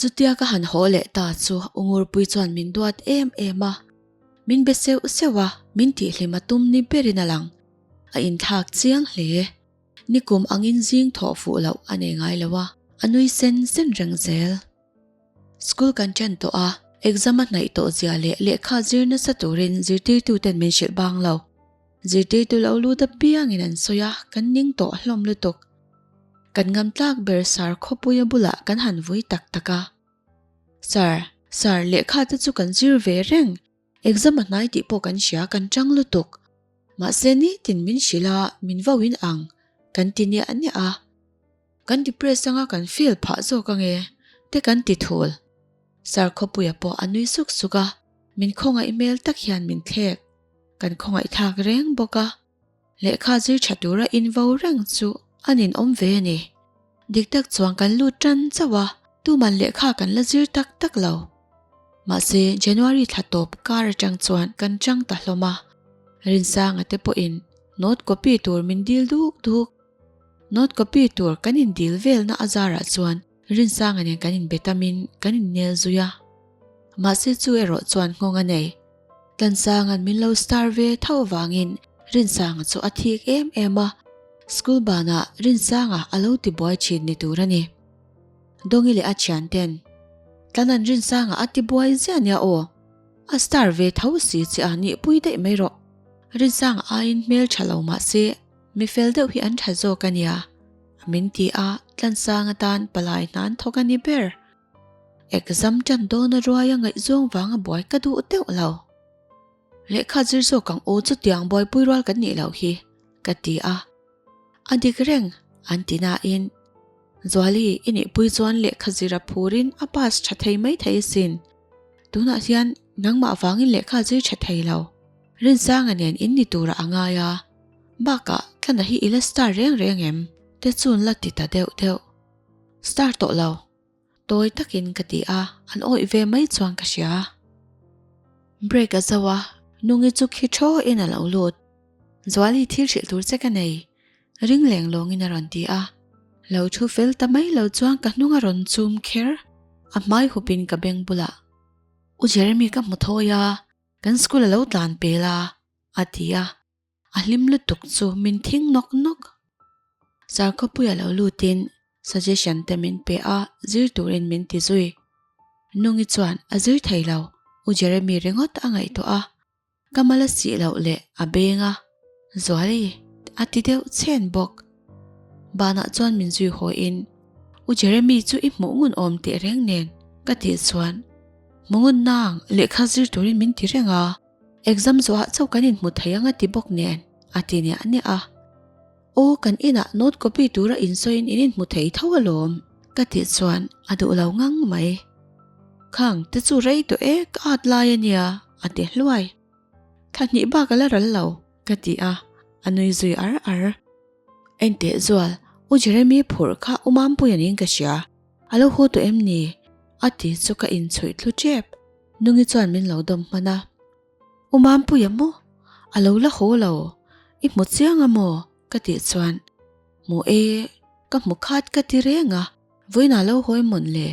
Chutia ka han haw leh ta chu Ungurpui chuan min duat em em a, min be seuh seuh a, min tihhlim a tum ni berin a lang. A inthlak chiang hle e. Nikum angin zing thawh fuh loh a nei ngai lo a, a nui sen sen reng zel. School kan chen tawh a, exam a hnaih tawh zia leh lehkha zir nasa turin zirtirtuten min hrilh bang lo. Zirtei tu lo lut apiangin an sawi a, kan ning tawh hlawm lutuk. Kan ngam tlak ber sir khawpuia bulah kan han vui tak tak a. Sir, sir, lehkha te chu kan zir ve reng, exam a hnai tih pawh kan hria, kan chang lutuk. Mahse nitin min hrilh a, min vauin ang, kan ti niah niah a. Kan depress anga kan feel phah zawk ange te kan ti thul. Sir Khawpuia pawh a nui suk suk a, min khawngaih hmel tak hian min thlek. Kan khawngaihthlak reng bawk a. Lehkha zir tha tura invo reng chu a nin awm ve a ni. Dik tak chuan kan lut tan chauh a, tuman lehkha kan la zir tak tak lo. Mahse, January thla tawp kar atang chuan kan tang ta hlawm a. Rinsanga te pawhin note copy tur min dil duk duk. Note copy tur kan in dil velna a zarah chuan Rinsanga'n in kan in be tamin kan in nel zui a. Mahse chu erawh chuan nghawng a nei. Tlansanga'n min lo star ve tho avangin Rinsanga chu a thik em em a. School banah Rinsanga a lo ti buai thin ni tur a ni. Dongi leh a thiante'n, Tlan'an Rinsanga a ti buai zia nia aw. A star ve tho si che a, nihpui daih mai rawh. Rinsanga aiin hmeltha lo mahse. Mi fel deuh hi an tha zawk a nia, a min ti a, Tlansang atan palai hna an thawk a ni ber. Exam tan dawn a ruai a ngaih zawng vang a buai ka duh deuh lo. Lehkha zir zawk ang u chutiang buaipui rual kan nih loh hi, ka ti a. A dik reng, an ti nain, Zuali, i nih pui chuan lehkha zir a phur in a pass tha thei mai thei asin. Tunah hian nangmah vangin lehkha zir tha thei lo. Rinsanganen in ni tur a a ngai a. Bakah thlana hi ila star reng reng em? Te chun la ti ta deuh deuh. Star tawh lo. Tawi takin ka ti a, an awih ve mai chuan ka hria. Break a zau a, Nungi chu khi tho in a lo lut. Zuali thil hrilh tur che ka nei. Ring leng lawng in a rawn ti a. Lo thu fel ta mai lo chuan ka hnung a rawn chum kher. A hmai hup in ka beng bulah. U Jeremy ka hmu thawi a, kan school a lo tlan pel a, a ti a. A hlim lutuk chu min thing nawk nawk. Sarkhawpui a lo lutin suggestion te min pe a, zir turin min ti zui. Nungi chuan a zir thei lo, U Jeremy ringawt a ngaihtuah a, ka mal a sih loh le a beng a, Zuali, a ti deuh chhen bawk. Banah chuan min zui hawiin, U Jeremy chu i hmuh ngun awm tehreng nen ka tih chuan, Hmu ngunna ang, lehkha zir turin min ti reng a. Exam zawhah chauh kan inhmu thei anga ti bawk nen a ti niah niah a. Aw kan inah note copy tura insawiin in inhmu thei tho alawm ka tih chuan a duh lo ngang mai. Khang te chu rei tawh e ka at lai a nia a ti hluai. Tha hnih bak a la ral lo ka ti a, a nui zui ar ar. Enteh zual u Jeremy phurh kha u Mampuia niin ka hria, A lo hu tawh em ni? a ti chu ka inchhawih thlu tep. Nungi chuan min lo dawm hman a, U Mampuii a maw? A lo la haw lo, i hmu chiang a maw? ka tih chuan, Hmu e, ka hmu khat ka ti reng a, vawiinah lo hawi mawn le.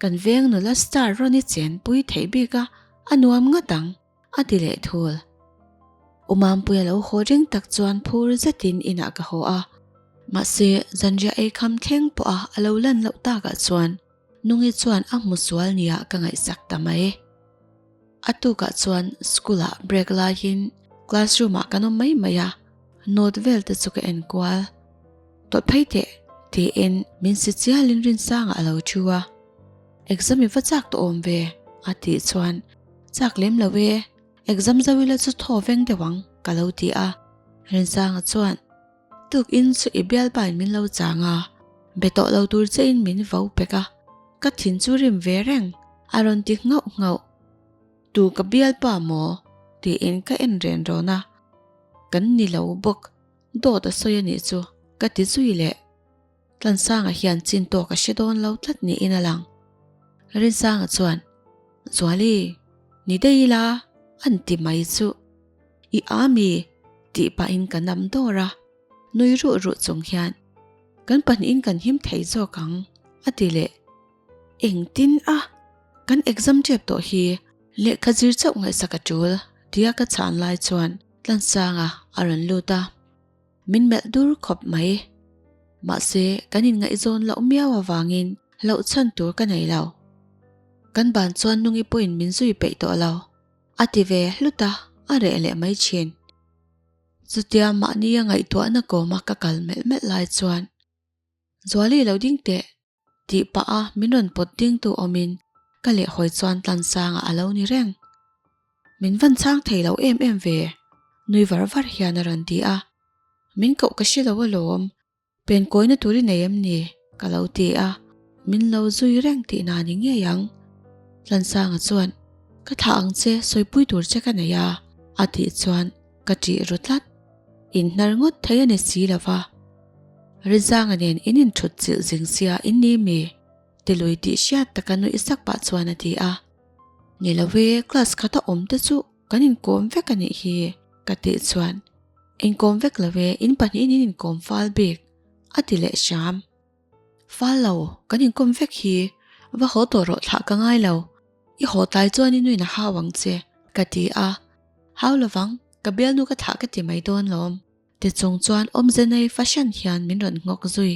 Kan veng nula star Ronnie chenpui theih bik a, a nuam ngat ang. A ti leh thul. U Mampuii a lo haw reng tak chuan phur zetin inah ka haw a. Mahse, zanriah ei kham thleng pawh a a lo lan loh tak ah chuan Nungi chuan a hmu sual nia ka ngaihsak ta mai. A tuk ah chuan school ah break laiin classroom ah kan awm mai mai a, note vel te chu ka en kual. Tawlh phei teh, tiin min si chialin rinsang ah a lo thu a. Exam i va chak tawh awm ve, a tih chuan. Chak lem lo e, exam zo ila chu thaw veng deuh ang ka lo ti a. Rinsanga chuan, Tuk in chu i bial bain min lo chang a, be tawh lo tur che in min vo pek a, ka thin chu rim ve reng a rawn ti nghauh nghauh. Tu ka bial pa maw? tiin ka en ren rawn a. Kan ni lo bawk, dawt a sawi a nih chu ka ti zui leh. Tlansanga hian chin tawh ka hre dawn lo tlat niin a lang. Rinsanga chuan, Zuali, ni dei ila an ti mai chu i ami? tih pahin ka nam dawr a, nui ruh ruh chung hian, Kan pahnihin kan him thei zawk ang, a ti leh. Engtin a, kan exam tep tawh hi lehkha zir chauh ngaihsak a tul, tia ka chhan lai chuan Tlansanga a rawn lut a. Min melh dur khawp mai. Mahse, kan inngaihzawn loh miau avangin hlauhchhan tur ka nei lo. Kan ban chuan nungi pawhin min zui peih tawh lo, a ti ve hlut a, a reh leh mai thin. Chutia mahnia ngaihtuahna kawma ka kal melh melh lai chuan, Zuali lo ding teh, Tih pah a, min rawn pawt ding tu awmin ka leh hawi chuan Tlansanga a lo ni reng. Min van chang thei lo em em ve, nui var var hian a rawn ti a. Min koh ka hre lo alawm, pen kawina tur i nei em ni? ka lo ti a, min lo zui reng tih na ni ngei ang. Tlansanga chuan, Ka thlah ang che, sawipui tur che ka nei a, a tih chuan Ka tih ru tlat. In hnar ngawt thei a ni si lova. Rizanga nen in inthut chilh zing sia in ni mi? Tilui tih hriat taka nuih sak pah chuan a ti a. Ni lo e, class khat a awm te chu kan inkawm vek a nih hi, ka tih chuan. Inkawm vek lo e, in pahnihin in inkawm fal bik, a ti leh hram. Fal lo, kan inkawm vek hi, va haw tawh rawh thlah ka ngai lo, i haw tlai chuan i nuin a hau ang che, ka ti a. Hau lo vang, ka bial nu ka thlah ka ti mai dawn lawm. Tichung chuan awmzenei fahran hian min rawn nghawk zui.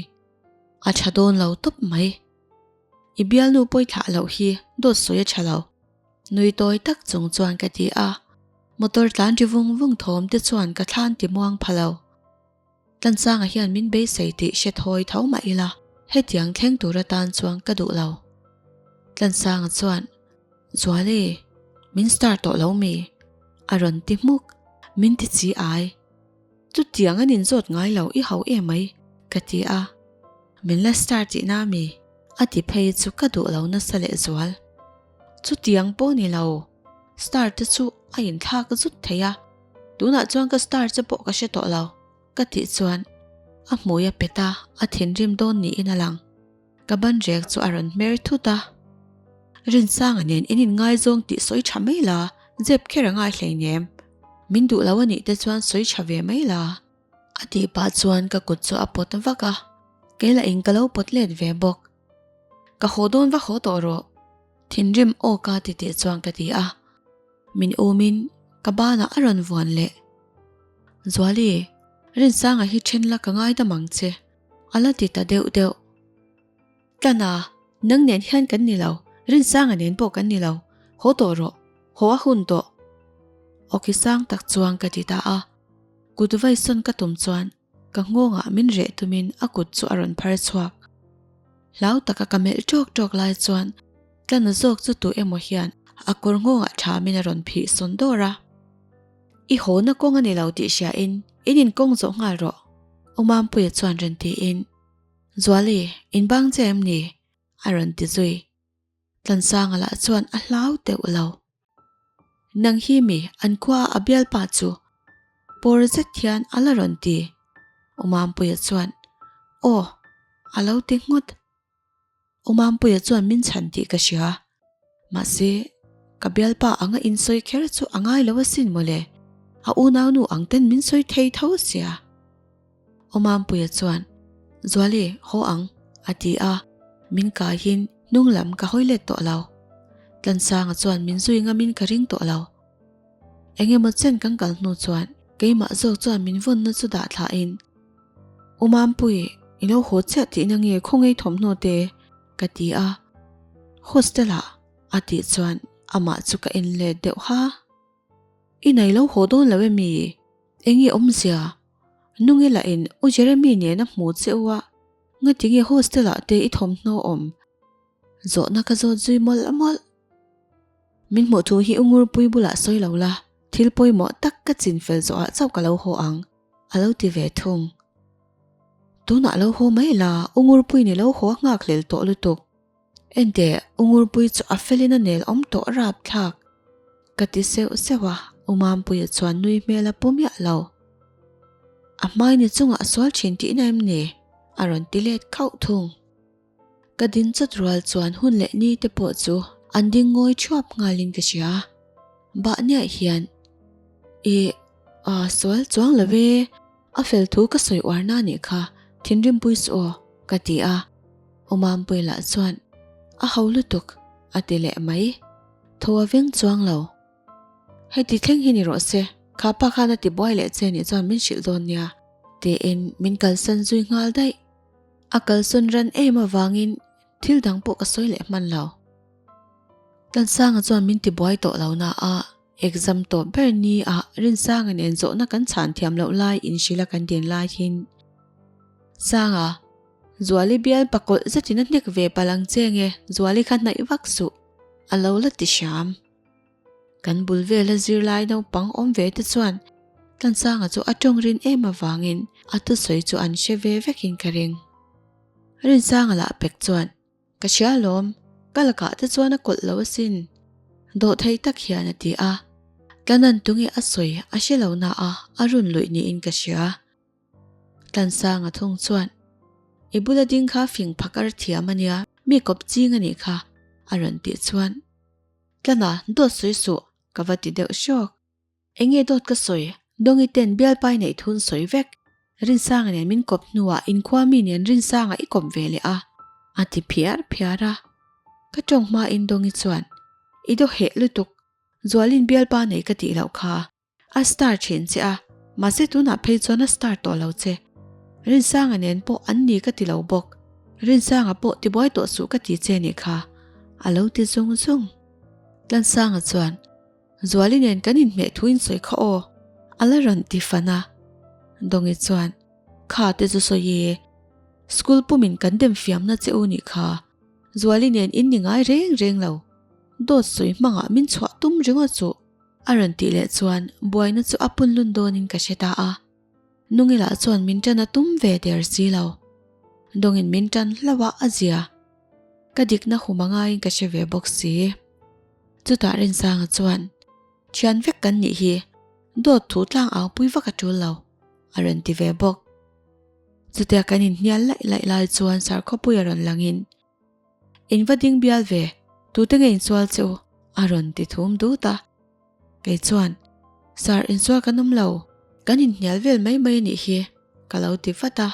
A tha dawn lo tawp mai. I bial nu pawi thlah loh hi dawt sawi a tha lo. Nui tawi tak chung chuan ka ti a. Motor tlan ri vung vung thawm te chuan ka thlan timuang pha lo. Tlansanga hian min beisei tih hre thawi tho mah ila, hetiang thleng tur atan chuan ka duh lo. Tlansanga chuan, Zuali, min start tawh lo mi? a rawn ti hmuk. Min ti chi ai. Chutiang an inzawt ngai lo i hauh em mai, ka ti a. Min la start tihna mi? a ti phei chu ka duh lo nasa leh zual. Chutiang pawh ni lo, star te chu a inthlak zut thei a, tunah chuan ka star che pawh ka hre tawh lo, ka tih chuan a hmui a pet a, a thinrim dawn niin a lang. Ka banrek chu a rawn hmer thut a. Rinsanga nen in inngaizawng tih sawi tha mai la, zep kher a ngai hleinem, min duh lo a nih te chuan sawi tha ve mai la. A tih pah chuan ka kut chu a pawt vak a, kei la in ka lo pawt let ve bawk. Ka haw dawn va haw tawh rawh, thinrim awk a titih chuan ka ti a, min umin ka banah a rawn vuan leh. Zuali, Rinsanga hi then la ka ngaidam ang che, a la ti ta deuh deuh. Tlana, nang nen hian kan ni lo, Rinsanga nen pawh kan ni lo, haw tawh rawh, haw a hun tawh. Awki sang tak chuan ka ti ta a, kut vaisawn ka tum chuan Ka nghawngah min reh tumin a kut chu a rawn phar chhuak. Hlau taka ka melh tawk tawk lai chuan tlana zawk chu tu emaw hian a kawr nghawngah thamin a rawn phih sawn dawr a. I hawna kawng a ni lo tih hriain in inkawng zawh nghal rawh. Awmampuia chuan rin tiin, Zuali, in bang che em ni? a rawn ti zui. Tlansanga lah chuan a hlau teuh lo. Nang hi mi an khua a bialpa chu pawr zet hian a la rawn ti. Umampuia chuan, Aw, a lo ti nghut. Umampuia chuan min chhan tih ka hria. Mahse, ka bialpa anga insawi kher chu a ngai lo asin maw le? A unaunu ang ten min sawi thei tho sia. Aw Mampuia chuan, Zuali, haw ang, a ti a, min kaihin hnung lam ka hawi let tawh lo. Tlansanga chuan min zui ngamin ka ring tawh lo. Eng emaw chen kan kal hnu chuan keimah zawk chuan min vawnna chu dah thlahin, U Mampui, i lo haw chiah tihna nge khawngei thawmhnaw te? ka ti a. Hostel ah, a tih chuan amah chu ka en let deuh ha. I nai lo haw dawn lo em i? Eng i awmzia Nungelahin u Jeremy nen a hmu cheu a, ngatinge hostel-ah te i thawmhnaw awm? Zawhna ka zawt zui mawlh mawlh. Min hmuh thu hi u Ngurpui bulah sawi lo la, thil pawimawh tak ka chin fel zawhah chauh ka lo haw ang, a lo ti ve thung. Tunah lo haw mai la, u Ngurpui nih lo haw a nghakhlel tawh lutuk. Endeh, Ungurpui chu a felin a nel awm tawh rap thlak ka ti seuh seuh a, Umampuia chuan nui hmel a pu miah lo. A hmai ni chungah sual thin tihna em ni? a rawn ti let khauh thung. Ka din chawt rual chuan hun leh ni te pawh chu an ding ngawi thuap ngalin ka hria. Bahniah hian, I, aa, sual chuang lo e. A fel thu ka sawi uarna a nih kha, Thinrimpui chu aw, ka ti a. Umampuii lah chuan, A ho lutuk, a ti leh mai. Tho a veng chuang lo. Heti thleng hi ni rawh se, kha pa khan a ti buai leh che nih chuan min hrilh dawn nia, tiin min kalsan zui nghal daih. A kalsawn ran em avangin thil dang pawh ka sawi leh hman lo. Tansanga chuan min ti buai tawh lo naah Exam tawp ber ni a Rinsanga nen zawhna kan chhan thiam loh lai in Shila kan din lai khin Sanga, Zuali bial pa kawlh zet in a hnek ve palh ang che nge Zuali kha hnaih vak suh a lo la ti hram. Kan bul vel a zir lai naupang awm ve te chuan Tansanga chu a tawng rin em avangin a thusawi chu an hre ve vek in ka ring. Rinsanga lah pek chuan Ka hria alawm, ka lakah te chuan a kawlh lo asin. Dawh thei tak hian a ti a, Tlanan tunge a sawi a hre lo naha a run luih niin ka hria. Tlansanga thung chuan, I bula ding kha fing phak a ra thiam a nia, mi kawp ching a nih kha, a rawn tih chuan. Tlana, dawt sawi suh, ka va ti deuh hrawk. Enge dawt ka sawi? Dongi ten Bialpai neih thun sawi vek. Rinsanga nen min kawp hnuah inkhua mi nen Rinsanga i kawp ve leh a, a ti phiar phiar a. Ka tawng hmain Dongi chuan, I daw heh lutuk, Zualin Bialpa nei ka tih loh kha, a star thin che a, mahse tunah phei chuan a star tawh lo che. Rinsanga nen pawh an ni ka ti lo bawk, Rinsanga pawh tibuai tawh suh ka ti che ni kha, a lo ti zung zung. Tlansanga chuan, Zuali nen kan inhmeh thu insawi kha aw. A la rawn ti fan a. Dongi chuan, Kha te chu sawi e. School pumin kan dem fiamna che u nih kha. Zuali nen in ni ngai reng reng lo. Dawt sawi hmangah min chhuah tum ringawt chu. A rawn tih leh chuan buaina chu a punlun dawnin ka hre ta a. Nungila chuan min tan a tum ve der si lo. Dawngin min tan hlauh a a zia. Ka dikna hum a ngaiin ka hre ve bawk si. Chutah Rinsanga chuan, Thian vek kan nih hi, dawt thu tlang au pui vak a tul lo, a rawn ti ve bawk. Chutia kan inhnial laih laih lai chuan Sarkhawpui a rawn langin, In va ding bial ve, tute nge in sual che u? A rawn ti thum dut a. Kei chuan, Sir, in sual kan awm lo. Kan in hnial vel mai mai anih hi, ka lo ti vat a.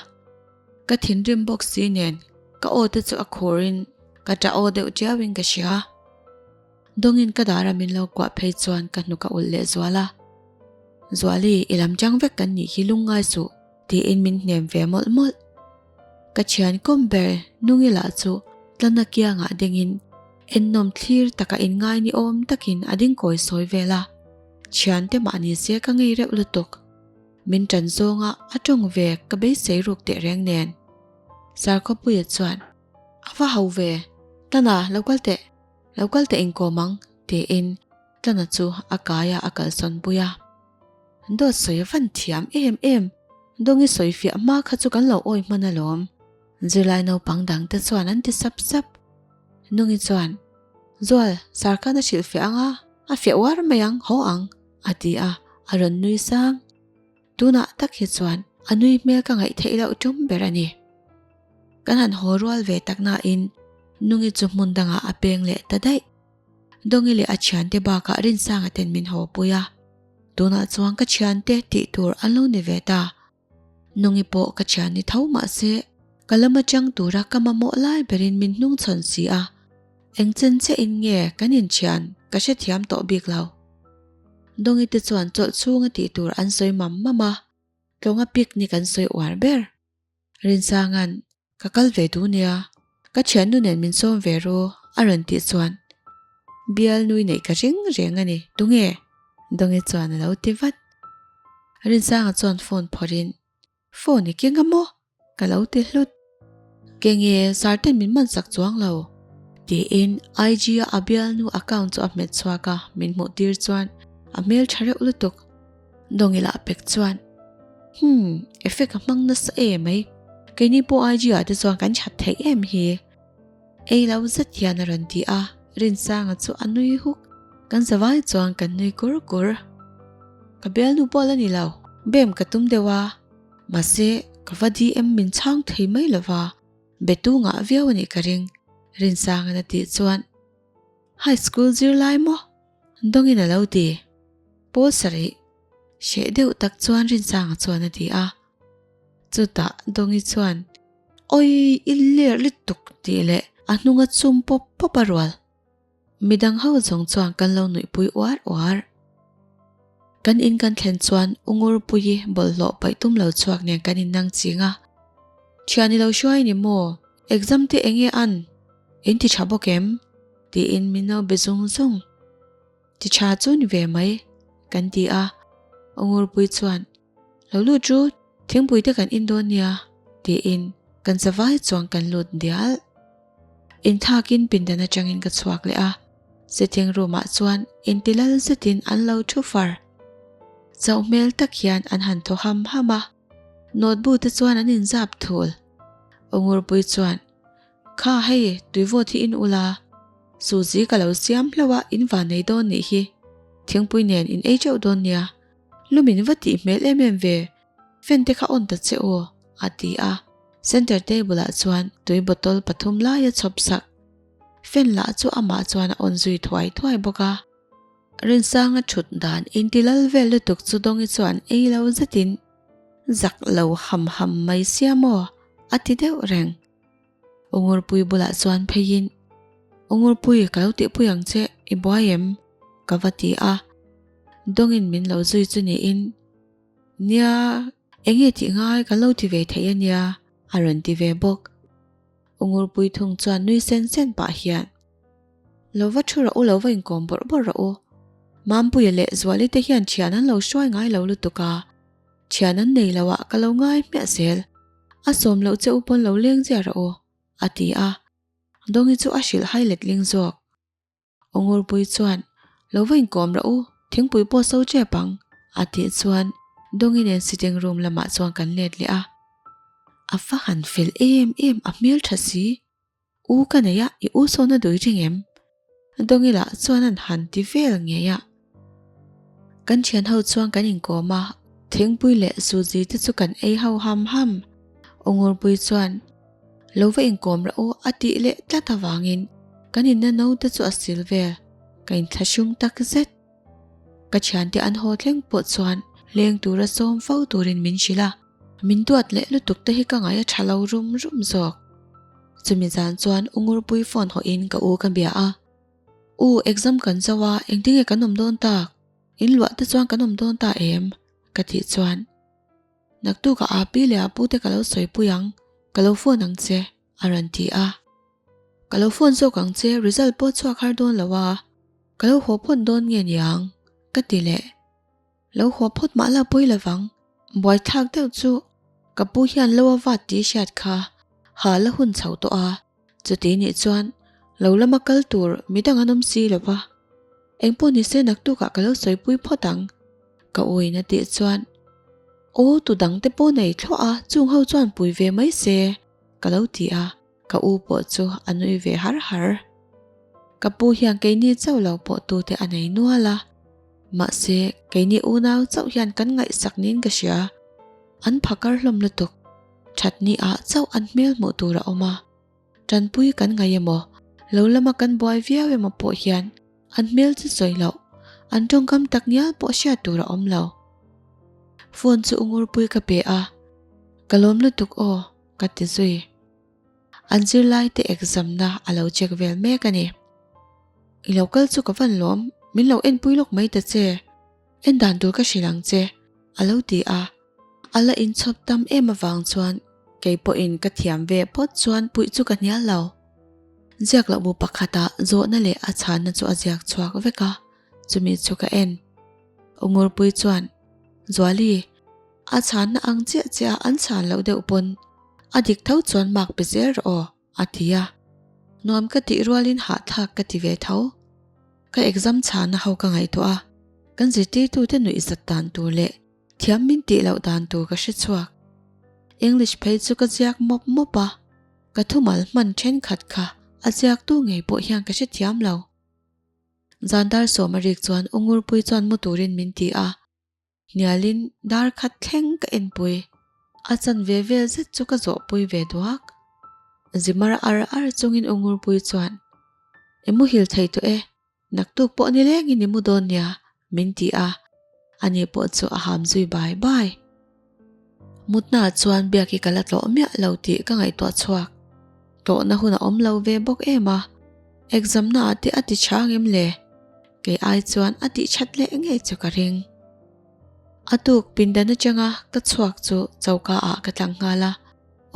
Ka thinrim bawk si nen, ka aw te chu a khur in ka ta aw deuh tiau in ka hria. Dawng in ka dah ram in lo kuah phei chuan ka hnuk a ulh leh zual a. Zuali, i lam chang vek kan nih hi lungngai suh, ti in min hnem ve mawlh mawlh. Ka thian kawm ber hnung ila chu tlana kiangah dingin ennawm thlir taka inngai ni awm takin a ding kawi sawi vel a, thiante mahni se ka ngei reuh lutuk. Min tan zawnga a tawng ve ka beisei ruk teh reng nen. Sarkhapuia chuan, A va ho ve, tlana lo kal teh, lo kal teh inkawm ang, tiin Tana chu a kaia a kal sawn pui a, Dawt sawi a van thiam em em, Dawngi sawi fiah hma kha chu kan lo awi hman alawm. Zirlai naupang dang te chuan an ti sap sap. Nungi chuan, Zual, Sarkhan a hrilh fiah ang a, a fiah uar mai ang, haw ang, a ti a, a rawn nui sang. Tunah tak hi chuan a nui hmel ka ngaih theih loh tum ber a ni. Kan han haw rual ve tak nain Nungi chu hmun dangah a peng leh ta daih. Dongi leh a thiante bakah Rinsanga ten min haw pui a, tunah chuan ka thiante tih tur an lo ni ve ta. Nungi pawh ka thian ni tho mah se, ka lam atang tura ka mamawh lai berin min hnung chhawn si a, engchen che in nge kan inthian ka hrethiam tawh bik lo. Dongi te chuan chawlh chhunga tih tur an sawi mam mam a, tlawnga picnic an sawi uar ber. Rinsanga'n, Ka kal ve duh nia, ka thiannu nen min sawm ve ru a rawn tih chuan bial nui neih ka reng reng a ni. Tunge? Dongi chuan a lo ti vat. Rinsanga chuan phone phawrhin, Phone i keng a maw? Ka lo ti hlut. Keng e, sarten min hmansak chuang lo. Tiin IG a a bialnu account chu a hmet chhuak a, min hmuh tir chuan a hmel tha reuh lutuk. Dongila a pek chuan, Hum, effect a hmang nasa e mai. Keini pawh IG-ah te chuan kan chat theih em hi. Ei lo zet hian a rawn ti a, Rinsanga chu a nui huk. Kan zavai chuan kan nui kur kur. Ka bialnu pawh la ni lo, bem ka tum deuh a, mahse ka va DM min chhang thei mai lova, betu ngah viau a nih ka ring, Rinsanga na tih chuan. High school zir lai maw? Dawngin a lo ti. Pawl sarih hreh deuh tak chuan Rinchanga chuan a ti a. Chutah Dawngi chuan, Awi, i ler lutuk tih leh a hnunga chum pawp pawp a rual. Midang ho zawng chuan kan lo nuihpui uar uar. Kan in kan thlen chuan Ungurpuii bawlhhlawh paih tum lo chhuak nen kan innang ching a. Thian i lo hruai ni maw? Exam te enge an? Eng ti tha bawk em? Tiin min naubi zung zung chi tha chu ni ve mai kan ti a, Ungurpui chuan, Lo lut chu, thingpui te kan in dawn nia, tiin kan zavai chuan kan lut dial. In thakin pindan atangin ka chhuak leh a, sitting room ah chuan inti lal zetin an lo thu far. Chauh hmel tak hian an han thaw ham ham a, notebook te chuan an in zap thul. Ungurpui chuan, Kha hei tuivawt hi in ula, Suzi ka lo siam hlo a in va nei dawn nih hi, Thingpui nen in ei teuh dawn nia, lu min va tih hmel em em ve, fan te kha on ta che aw, a ti a, center table ah chuan tui bottle pathum lai a chhawp sak, fan lah chu amah chuan a on zui thuai thuai bawk a. Rinsanga thut dan in ti lal vel lutuk chu Dawngi chuan ei lo zetin, Zak lo ham ham mai sia maw? a ti deuh reng. U Ngurpui bulah chuan pheiin, U Ngurpui, ka lo tihpui ang che, i buai em? ka va ti a. Dawngin min lo zui chu niin, Nia, enge tih ngai kan lo ti ve theih a nia, a rawn ti ve bawk. U Ngurpui thung chuan nui sen sen pah hian, Lo va thu rawh u, lo va inkawm bawrh bawrh rawh u. Mampuia leh Zuali te hian thian an lo hruai ngai lo lutuk a. Thian an nei lo ah ka lo ngai hmiah zel. A sawm loh che u pawn lo leng zia rawh u, a ti a. Dongi chu a hrilh hai let ling zawk. Ongurpui chuan, Lo va inkawm rawh u, thingpui pawh so chep ang, a tih chuan Dongi nen sitting room lamah chuan kan let leh a. A va han fel em em a hmeltha si. U ka nei a, i u sawn a dui ring em? Dongila chuan an han ti vel ngei a. Kan thian ho chuan kan inkawm a, Thingpui leh Suji te chu kan ei ho ham ham. Ungurpui chuan, Lo va inkawm rah u, a tih leh tlat avangin kan inna no te chu a sil vel, ka inthlahrung tak zet. Ka thiante an haw tleng pawh chuan leng tura sawm fo turin min hrilh a, min duat leh lutuk te hi ka ngai a tha lo rum rum zawk. Chumi zan chuan U Ngurpui phone hawh in ka u ka bia a, U, exam kan zo a, engti nge kan awm dawn tak? In luah te chuan kan awm dawn ta em? ka tih chuan, Naktuk a api leh a pu te ka lo sawipui ang, ka lo phone ang che. a rawn ti a. Ka lo phone zawk ang che result pawh chhuak har dawn lo a, ka lo haw phawt dawn nge niang? ka ti leh. Lo haw phawt mah la pawi lo vang, buaithlak deuh chu ka pu hian lo a vat ti hriat kha ha la hun chho tawh a, chuti nih chuan lo lama kal tur mi dang an awm si lo va, eng pawh ni se naktuk ah ka lo sawipui phawt ang ka u in a tih chuan, Aw tu dang te pawh nei thluah a, chung ho chuan pui ve mai se. ka lo ti a, ka u pawh chu a nui ve har har. Ka pu hian keini chauh lo pawh tute a nei nual a, mahse keini unau chauh hian kan ngaihsak niin ka hria. An pha kar hlawm lutuk, thatni ah chauh an hmel hmuh tur a awm a, tanpui kan ngaih emaw, lo lama kan buai viau emaw pawh hian, An hmel chu sawi lo. An tawngkam tak ngial pawh hriat tur a awm lo. Phone chu Ungurpuii ka pe a, Ka lawm lutuk aw, ka ti zui. An zirlai te exam na a lo check vel mek a ni. I lo kal chu ka van lawm, min lo enpui lawk mai ta che. En dan tur ka hrilh ang che, a lo ti a. A la inchhawp tam em avang chuan kei pawhin ka thiam ve phawt chuan puih chu ka hnial lo. Ziak loh bu pakhata zawhna leh a chhanna chu a ziak chhuak vek a, chumi chu ka en. Ungurpui chuan, Zuali, a chhanna ang chiah chiah a an chhan loh deuh pawn a dik tho chuan mark pe zel rawh aw. a ti a. Nuam ka tih rualin hahthlak ka ti ve tho. Ka exam chhana ho ka ngaihtuah a, kan zirtirtute nuihzat dan tur leh thiam min tih loh dan tur ka hre chhuak. English phei chu ka ziak mawp mawp a, ka thumal hman thenkhat kha a ziaktu ngei pawh hian ka hrethiam lo. Zandar Sawmaric chuan Ungurpui chuan mu turin min ti a. Hnialin dar khat thleng ka enpui, a chan ve vel zet chu ka zawhpui ve duak. Zimar ar ar chungin Ungurpuii chuan, I mu hil thei tawh e, naktuk pawh nilengin i mu dawn nia, min ti a, ani pawh chu a ham zui bai bai. Mutna ah chuan biak hi ka la tlawh miah lo tih ka ngaihtuah chhuak. Tlawhna hun a awm lo ve bawk em a, exam na ah te a ti chang em le? Kei ai chuan a tih chat leh ngei chu ka ring. A tuk pindan atanga ka chhuak chu choka ah ka tlang nghal a,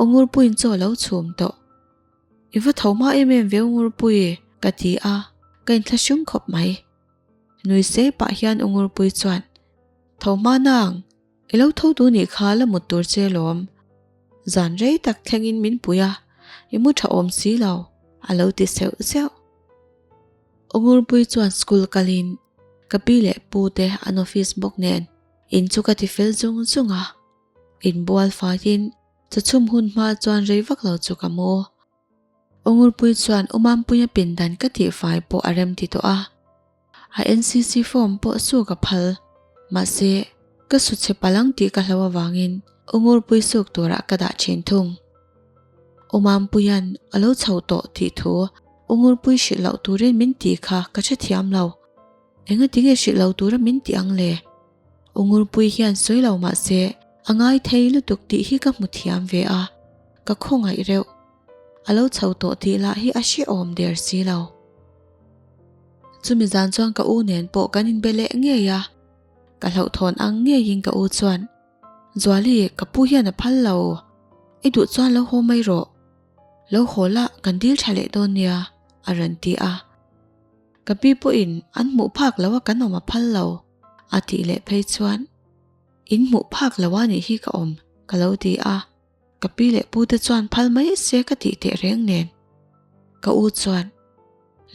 U Ngurpui'n chaw lo chhum tawh. I va tho hma em em ve U Ngurpui, ka ti a, ka inthlashum khawp mai. Nui sei pah hian U Ngurpui chuan, Tho hma nang. I lo tho duh nih kha la mut tur che lawm. Zan rei tak thlengin min pui a, i mu tha awm si lo, a lo ti seuh seuh. Ungurpui chuan school kalin ka pi leh pu te an office bawk nen in chu ka ti fel zung zung a. In bual faiin chu chhum hun hma chuan rei vak lo chu ka mu. Ongulpui chuan Umanpuia pindan ka tih fai pawh a rem ti tawh a, a NCC form pawh suk a phal. Mahse, ka su chhe palang tih ka hlo avangin Ongulpui suk turah ka dah thin thung. Umanpuia'n a lo chho tawh tih thu Ongulpui hrilh loh turin min tih kha ka hre thiam lo. Engatinge hrilh lo tura min tih ang le? Ungurpuii hian sawi lo mah se, a ngai thei lutuk tih hi ka hmu thiam ve a, ka khawngaih reuh. A lo chho tawh tih lah hi a hre awm der si lo. Chumi zan chuan ka u nen pawh kan in be leh ngei a, ka hlauhthawn ang ngeiin ka u chuan, Zuali, ka pu hian a phal lo, i duh chuan lo haw mai rawh, lo haw la, kan dil tha leh dawn nia, a rawn ti a. Ka pi pawhin an hmuh phak lo a kan awm a phal lo. A tih leh phei chuan in hmuh phak lo a nih hi ka awm ka lo ti a, ka pi leh pu te chuan phal mai se ka tih teh reng nen. Ka u chuan,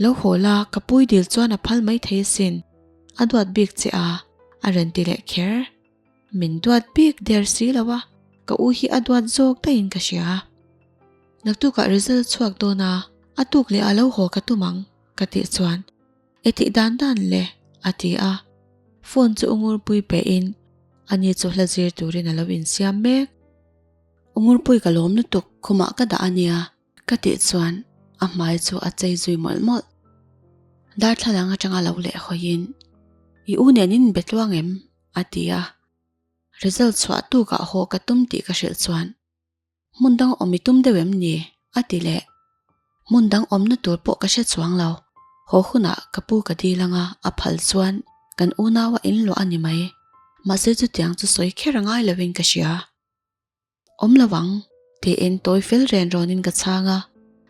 Lo haw la, ka puidil chuan a phal mai thei asin, a duat bik che a, a rawn ti leh kher. Min duat bik der si lo a, ka u hi a duat zawk daih in ka hria. Naktuk ah result chhuak dawn a, a tuk leh a lo haw ka tum ang, ka tih chuan I tih dan dan le, a ti a. Phone chu u Ngurpui pe in a ni chu hla zir turin a lo insiam mek. U Ngurpui ka lawm lutuk, khumah ka dah a nia ka tih chuan a hmai chu a chei zui mawlh mawlh. Darthlalang atanga lo leh hawiin, I u nen in be tluang em? a ti a. Result chhuah tukah haw ka tum tih ka hrilh chuan Hmun dang awm i tum deuh em ni? a ti leh. Hmun dang awmna tur pawh ka hre chuang lo. Haw hunah ka pu ka dil anga a phal chuan kan unaua in luah a ni mai. Mahse chutiang chu sawi kher ngai lovin ka hria. Awm lo ang, tiin tawi fel ren râwnin ka chhang a.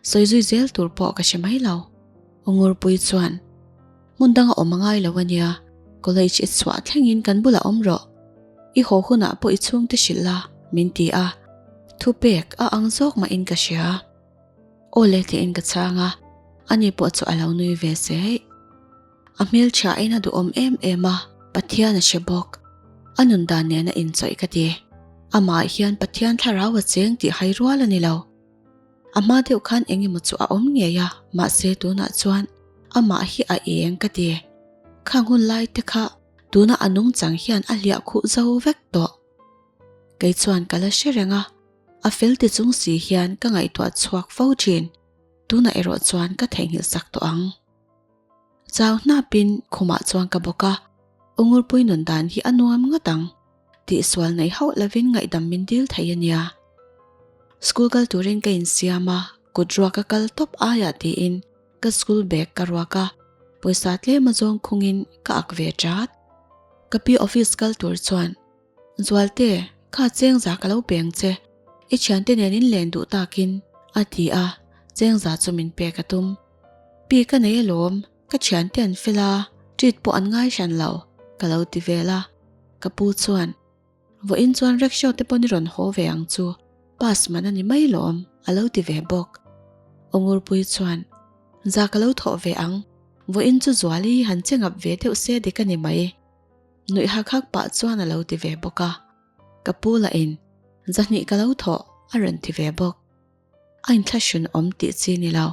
Sawi zui zel tur pawh ka hre mai lo. Ungurpuii chuan, Hmun danga awm a ngai lo a nia, college i chhuah thlengin kan bulah awm rawh. I haw hunah pawh i chhungte hrilh la, min ti a. Thu pek a ang zawk mahin ka hria. Aw le tlein ka chhang a, ani pawh chu a lo nui ve se heih. A hmelthiain a duhawm em em a, Pathian a hre bawk. A nun dan nen a inchawih ka ti. Amah hian Pathian thlarau a cheng tih hai rual a ni lo. A hma deuh khan eng emaw chu a awm ngei a, mahse tunah chuan amah hi a eng ka ti. Kha nghun lai te kha tuna a nung chang hian a hliah khuh zo vek tawh. Kei chuan ka la hre reng a, a fel ti chung si hian ka ngaihtuah chhuak fo thin, tuna erawh chuan ka theihnghilh sak tawh ang. Chau hnapin khumah chuan ka bawk a, Ungurpui nun dan hi a nuam ngat ang tih sual neih hauh lovin ngaihdam min dil thei a nia. School kal turin ka insiam a, kut ruak a kal tawp aiah tiin ka school bag ka ruak a, pawisa tlema zawng khungin ka ak ve tat. Ka pi office kal tur chuan Zualte, kha chengza ka lo peng che, i thiante nen in len duh takin a ti a, chengza chu min pek a tum. Pi ka nei alawm, ka thiante an fel a, treat pawh an ngai hran lo, ka lo ti vel a. Ka pu chuan, Vawh in chuan rickshaw te pawh ni rawn haw ve ang chu, pass man a ni mai lawm, a lo ti ve bawk. Ongurpui chuan, Za ka lo thawh ve ang, vawh in chu zual i han che ngap ve deuh se dik a ni mai. Nuih hak hak pah chuan a lo ti ve bawk a, ka pu la in zahnih ka lo thawh a rawn ti ve bawk. A inthlahrun awm tih chi ni lo,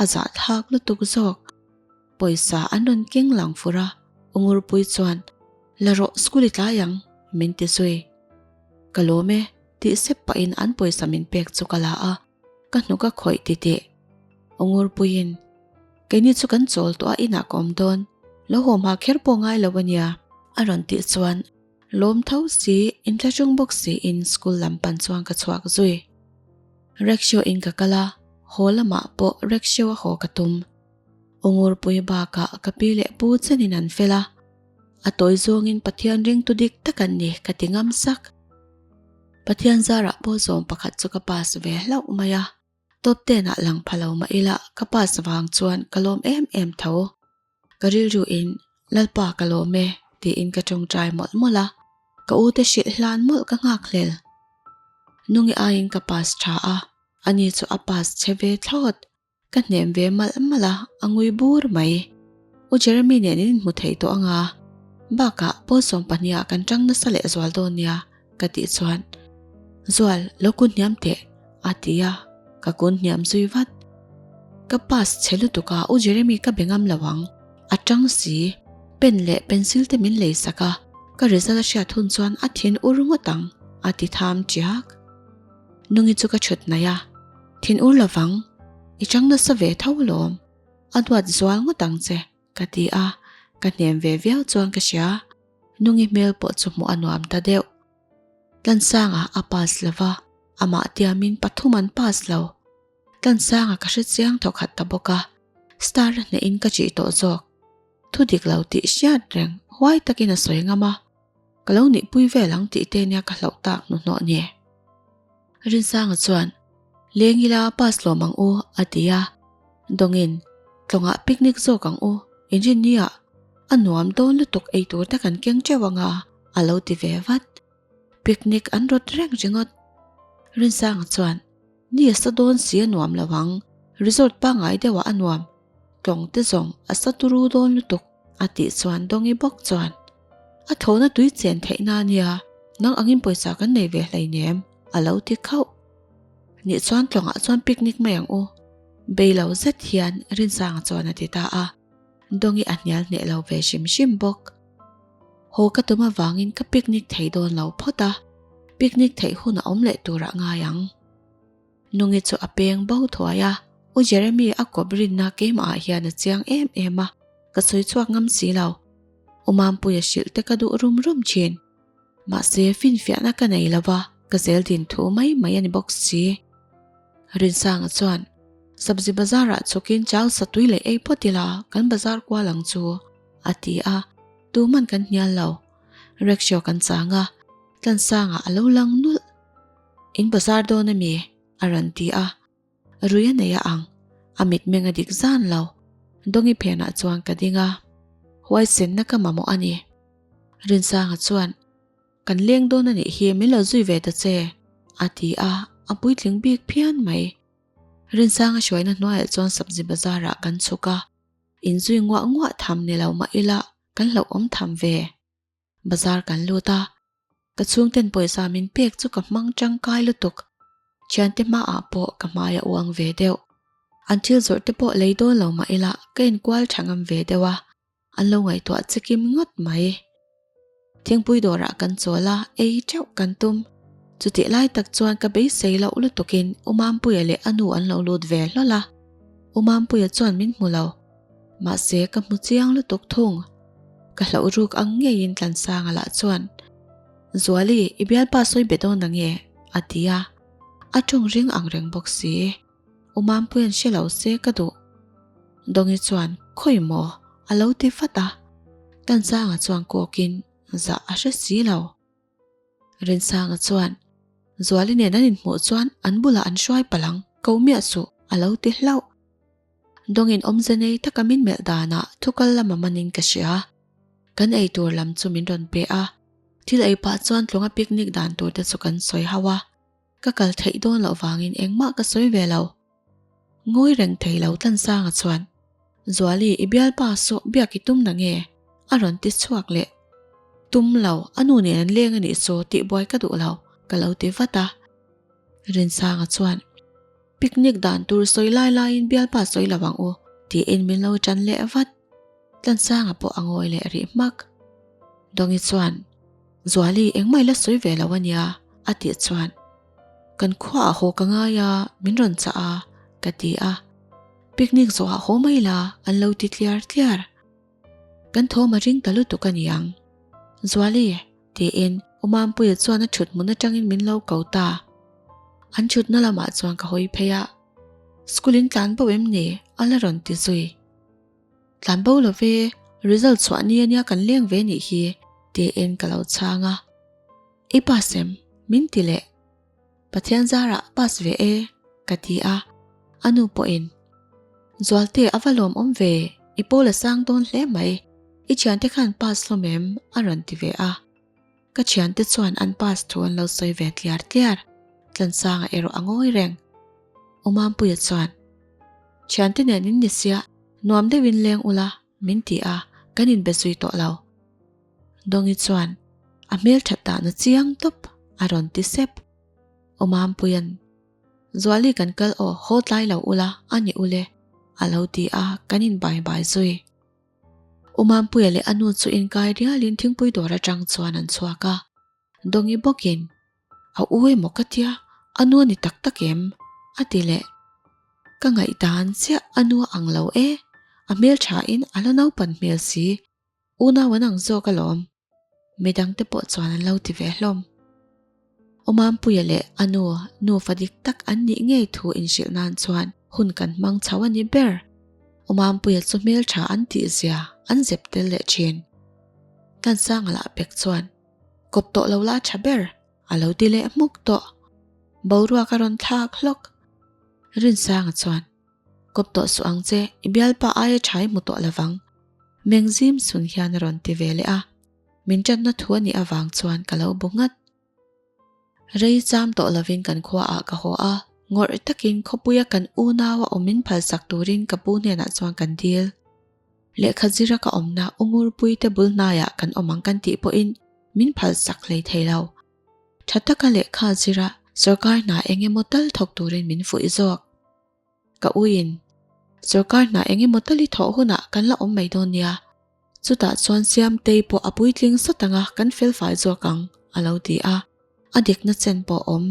a zahthlak lutuk zawk. Pawisa an rawn keng lang fur a, Ungurpuii chuan, La rawh, school i tlai ang, min ti zui. Ka lawm e, tih sep pahin an pawisa min pek chu ka la a. Ka hnuk a khawih ti tih. Ungurpuiin, Keini chu kan chawl tawh a, inah ka awm dawn. Lo haw hma kher pawh ngai lo a nia. A rawn tih chuan lawm tho si, in tla ṭung bawk siin school lam pan chuan ka chhuak zui. Rickshaw in ka kal a, haw lamah pawh rickshaw a haw ka tum. Ungurpui bakah ka pi leh pu chenin an fel a, a tawi zawngin Pathian ringtu dik tak an ni ka ti ngam sak. Pathian zarah pawh zawng pakhat chu ka pass ve hlauh mai a, top tenah lang pha lo mah ila ka pass vang chuan ka lawm em em tho. Ka rilru in, Lalpa ka lawm e tiin ka tawngtai mawlh mawlh a, ka u te hrilh hlan mawlh ka nghak hlel. Nungi aiin ka pass tha a, ani chu a pass che ve thlawt. Ka hnem ve mal mal a, a ngui bur mai. U Jeremy nen in inhmu thei tawh anga, bakah Paul sawm pahniha kan tang nasa leh zual dawn nia, ka tih chuan, Zual, lo kun hniam teh, a ti a, ka kun hniam zui vat. Ka pass chhe lutuk a, u Jeremy ka be ngam lo ang, a tang si. Pen leh pencil te min lei sak a, ka result a hriat hun chuan a thin ur ngawt ang, a ti tham ṭiak. Nungi chu ka chhut mai a, thin ur lo vang, i chang nasa ve tho lawm, a hnuat zual ngawt ang che, ka ti a, ka hnem ve viau chuan ka hria, Nungi hmel pawh chu hmuh a nuam ta deuh. Tlansanga a pass lo va, amah tiamin pathum an pass lo. Tlansanga ka hre chiang tho khat ta bawk a, star a hnehin ka chih tawh zawk, thu dik lo tih hriat reng huai takin a sawi ngam a. Ka lo nih pui vel ang tih te nia ka hlauh tak hnuhnawh ni. Rinsanga chuan, Leng ila pass lawm ang u a ti a, dawngin, Tlawngah picnic zawk ang u, Engineer a nuam dawn lutuk eitur te kan keng teuh anga a lo ti ve vat. Picnic an rawt reng ringawt. Rinsanga chuan, Ni a sa dawn si a nuam lo ang, resort pangai deuhah a nuam, tlawng te zawng a sa turu dawn lutuk, a tih chuan Dongi bawk chuan, A thlona tui chen theihna a nia, nang angin pawisa kan nei ve hlei nem? a lo ti khauh. Nih chuan tlawngah chuan picnic mai ang u, beilo zet hian Rinsanga chuan a ti ta a. Dongi a hnial hneh lo ve hrim hrim bawk. Haw ka tum avangin ka picnic thei dawn lo phawt a, picnic theih hunah awm leh turah ngai ang. Nungi chu a peng bo thuai a, u Jeremy a kawp rinna keimahah hian a chiang em em a, ka sawi chhuak ngam si lo. U Mampuia hrilh te ka duh rum rum thin. Mahse, finfiahna ka nei lo va, ka zel din thu mai mai a ni bawk si. Rinsanga chuan, Sabzi bazarah chukin chau satui leh ei phawt ila kan bazar kual ang chu, a ti a, tu man kan hnial lo. Rickshaw kan chang a, Tlansanga a lo lang nulh. In bazar dawn a mi? a rawn ti a. A rui a nei a ang, a mit meng a dik zan lo. Dongi phenah chuan ka ding a, huaisenna ka mamawh a ni. Rinsanga chuan, Kan leng dawn a nih hi, min lo zui ve ta che, a ti a, a puitling bik phian mai. Rinsanga hruaina hnuaiah chuan Sabzi Bazar-ah kan chhuk a, in zui nguah nguah tham ni lo mah ila kan hlauhawm tham ve. Bazar kan lut a, ka chhungten pawisa min pek chu ka hmang tangkai lutuk. Thiante hmaah pawh ka hmai a uang ve deuh. An thil zawrh te pawh lei dawn lo mah ila ka inkual tha ngam ve deuh a, an lo ngaihtuah che kim ngawt mai. Thingpui dawrah kan chawl a, ei teuh kan tum. Chutih lai tak chuan ka beisei loh lutukin Umampuia leh a nu an lo lut ve hlawl a. Umampuia chuan min hmu lo. Mahse ka hmu chiang lutuk thung. Ka hloh ruk ang ngeiin Tlansanga lah chuan, Zuali i bialpa sawi be dawn ange? a ti a. A ṭawng ring ang reng bawk si. U Mampuia'n hre lo se ka duh. Dawngi chuan, Khawi maw? a lo ti fat a. Tlansanga chuan kawkin, Zah a hre si lo. Rinsanga chuan, Zuali nen an inhmuh chuan an bulah an hruai palh ang, ko miah suh, a lo ti hlauh. Dawngin awmze nei taka min melh danah thukal lama manin ka hria. Kan ei tur lam chu min rawn pe a, thil ei pah chuan tlunga picnic dan turte chu kan sawi hauh a. Ka kal theih dawn loh vangin engmah ka sawi ve lo. Ngawi reng thei lo Tansanga chuan, Zuali, i bialpa saw biak i tum na nge? A rawn ti chhuak leh. Tum lo, a nu nen an leng a nih chu, tih buai ka duh lo, ka lo ti vat a. Rinsanga chuan, Picnic dan tur sawi lai laiin bialpa sawi lo ang u, tiin min lo tan leh vat. Tlansanga pawh a ngawi leh rih hmak. Dongi chuan, Zuali, engmah ila sawi ve lo a nia, a tih chuan, Kan khuaah haw ka ngai a, min rawn chah a, ka ti a. Picnic zawhah haw mai la, an lo ti tliar tliar. Kan thawm a ring ta lutuk a niang. Zuali, tiin Umampuia chuan a thut hmun atangin min lo ko ta. An thutna lamah chuan ka hawi phei a. Schoolin tlan bo em ni? A la rawn ti zui. Tlan bo love, result chhuah nia nia kan leng ve nih hi tih in ka lo chhang a. I pass em? Min ti le. Pathian zarah pass ve e ka ti a, a nu pawh in Zualte a va lawm awm ve, i pawl a sang dawn hle mai, i thiante khan pass hlawm em? a rawn ti ve a. Ka thiante chuan an pass thu an lo sawi ve tliar tliar. Tlansanga erawh a ngawi reng. U Mampuia chuan, Thiante nen in ni sia, nuam deuhin leng ula, min ti a, kan inbe zui tawh lo. Dongi chuan a hmelthat dahna chiang tawp a rawn ti sep. U Mampuia'n, Zuali kan kal aw, haw tlai lo ula, a ni ule, a lo ti a, kan inbai bai zui. U Mampuia leh a nu chu inkai rialin thingpui dawr atang chuan an chhuak a. Dawngih bawkin, A u emaw ka tia, a nu a ni tak tak em? a ti leh. Ka ngaih dan chiah, a nu a ang lo e, a hmelthain a la naupan hmel si, Unau an ang zawk alawm, midangte pawh chuan an lo ti ve hlawm. Awmampuia leh Anu nu fa dik tak an nih ngei thu inhrilh nan chuan hun kan hmang chho a nih ber. Awmampuia chu hmeltha an tih zia an zep tel leh thin. Tansanga lah pek chuan, Kawp tawh lo la tha ber, a lo ti leh hmuk tawh. Boruaka rawn thlak hlawk. Rinsanga chuan, Kawp tawh suh ang che, i bialpa aia tha i hmu tawh lovang. Meng zim sun hian a rawn ti ve leh a, min tatna thu a nih avang chuan ka lo bu nghat. Rei cham tawh lovin kan khua ah ka haw a, ngawrh takin khawpuia kan unau a awmin phalsak turin ka pu hnenah chuan kan dil. Lehkha zira ka awmna Ungurpui te bul hnaiah kan awm ang kan tih pawhin min phalsak hlei thei lo. Tha taka lehkha zira sorkar hna eng emaw tal thawk turin min fuih zawk. Ka uin. Sorkar hnah eng emaw tali thawh hunah kan la awm mai dawn nia. Chutah chuan Siamtei pawh a puitling sat anga kan fel fai zawk ang, a lo ti a. A dik nachan pawh awm.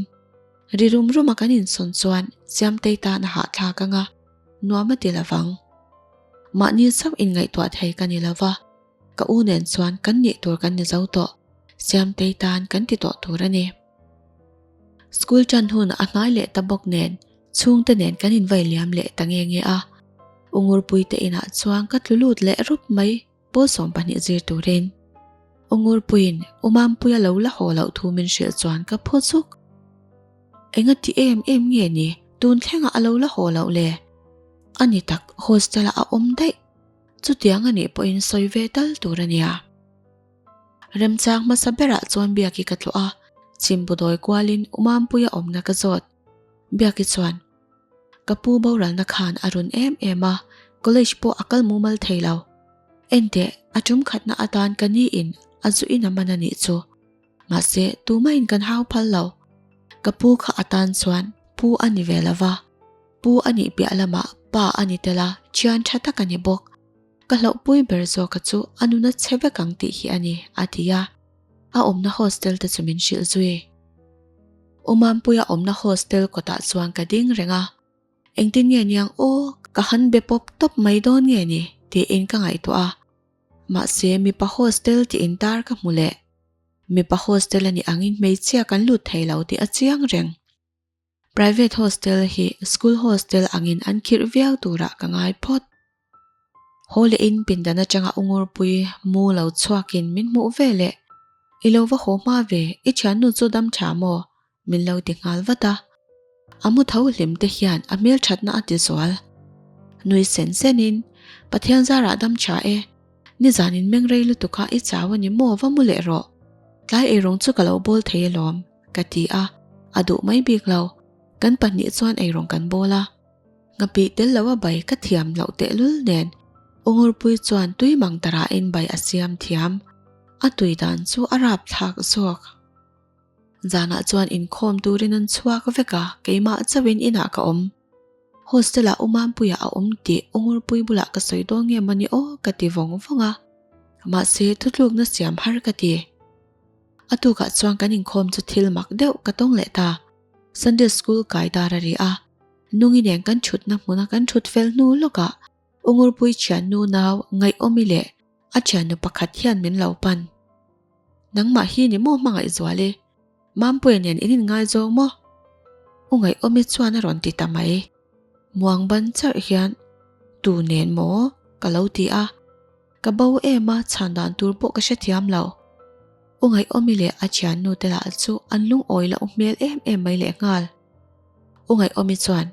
Ri rum rum a kan insawn chuan Siamtei tan a hahthlak anga nuam a ti lovang. Mahni zauh inngaihtuah thei ka ni lova, ka u nen chuan kan nih tur kan ni zo tawh, Siamtei tan kan ti tawh tur a ni. School tan hun a hnai leh ta bawk nen chhung te nen kan invai liam leh ta nge nge a. Ungurpui te inah chuan ka tlu lut leh rup mai pawl sawm pahnih zir turin. Ungurpuiin Umangpui a lo la haw loh thu min hrilh chuan ka phaw zuk. Enga ti em em nge ni, tun thlengah a lo la haw loh le? A ni tak, hostel-ah a awm daih. Chutiang a nih pawhin sawi ve tal tur a nia. Remchang hmasa berah chuan Biaki ka tluah a, chimbu dawi kualin Umampuia awmna ka zawt. Biaki chuan, Ka pu boralna khan a run em em a, college pawh a kal mumal thei lo. Enteh, a tum khatna atan ka ni in a zu in a man a nih chu. Mahse, tumahin kan hau phal lo. Ka pu kha atan chuan Pu a ni ve lova. Pu a nih piah lamah Pa a ni tel a, thiantha tak a ni bawk. Ka hlauhpui ber zawka chu a nuna chhe vek ang tih hi a ni, a ti a. A awmna hostel te chu min hrilh zui. U Mampuia awmna hostel kawtah chuan ka ding reng a, engtin nge niang aw, ka han be pawp tawp mai dawn nge ni? tiin ka ngaihtuah a. Mahse, mipa hostel tih intar ka hmu leh. Mipa hostel a nih angin hmeichhia kan lut thei lo tih a chiang reng. Private hostel hi school hostel angin an khirh viau turah ka ngai phawt. Haw leh in pindan atanga ungurpui mu lo chhuakin min hmuh ve le, I lo va haw hma ve, i thiannu chu dam tha maw? min lo ti nghal vat a. A mu tho hlim te hian a hmelthatna a tizual. Nui sen senin, Pathian zarah dam tha e, nizan in mengrei lutuka i chau a ni maw va mu leh rawh, tlai erawng chu ka lo bawl thei alawm. Ka ti a, a duh mai bik lo. Kan pahnih chuan eirawn kan bawl a, ngapih tel loh a bai ka thiam loh tehlul nen. U Ngurpuii chuan tui mang tarah in bai a siam thiam. A tui dan chu a rap thlak zawk. Zanah chuan inkhawm turin an chhuak vek a, keimah chauhin inah ka awm. Hostel ah Umanpuia a awm tih Ungurpui bulah ka sawi dawn nge mawni aw ka ti vawng vawng a, mahse thutluk na siam har ka ti. A tukah chuan kan inkhawm chu thil mak deuh ka tawng leh ta. Sunday school kai dar a ri a, nungineng kan thutna hmuna kan thut fel hnu lawkah Ungurpui thiannu nau ngaihawm i leh a thiannu pakhat hian min lo pan. Nangmah hi ni maw hmangaihzual i Mampuia nen in inngai zawng maw? U Ngaihawmi chuan a rawn ti ta mai. Muangban charh hian, Tu nen maw? ka lo ti a, ka bo em a chhan dan tur pawh ka hrethiam lo. U Ngaihawmi leh a thiannu te lah chu an lungawi loh hmel em em mai lehnghal. U Ngaihawmi chuan,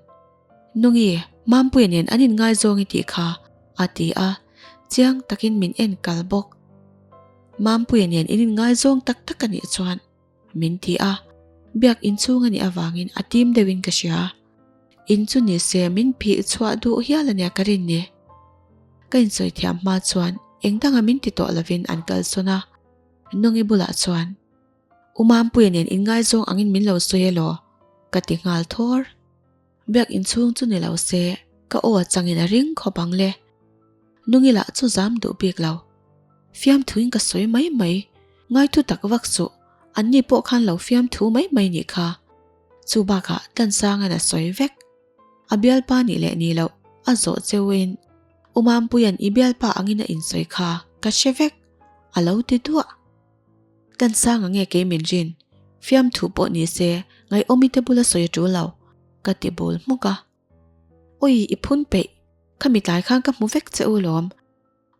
Nungi, Mampuii nen an inngaizawng i tih kha, a ti a, chiang takin min en kal bawk. Mampuii nen in inngaizawng tak tak a nih chuan min ti a, biak in chhung a nih avangin a tim deuhin ka hria. In chu ni se min phih chhuah duh hial a nia ka rin ni. Ka insawi thiam hma chuan engdanga min ti tawh lovin an kal sawn a, Nungi bulah chuan U Mampuia nen in ngaizawng angin min lo sawi elaw? ka ti nghal thawr. Biak inchhung chu ni lo se, ka aw changin a ring khawp ang le. Nungilah chu zam duh bik lo. Fiamthuin ka sawi mai mai. Ngaithu tak vak suh, anni pawh khan lo fiamthu mai mai nih kha. Chu bakah Tansanga'n a sawi vek. A bialpa nih leh ni loh, a zawh cheuhin U Mampuia'n i bialpa angin a insawi kha ka hre vek. A lo ti duah. Kan sang ang e kei min rin. Fiam thu pawh ni se, ngaihawm i te bula sawi a tul lo, ka ti bul hmuk a. Ui, i phun peih, kha mi tlai khan ka hmu vek che u lawm.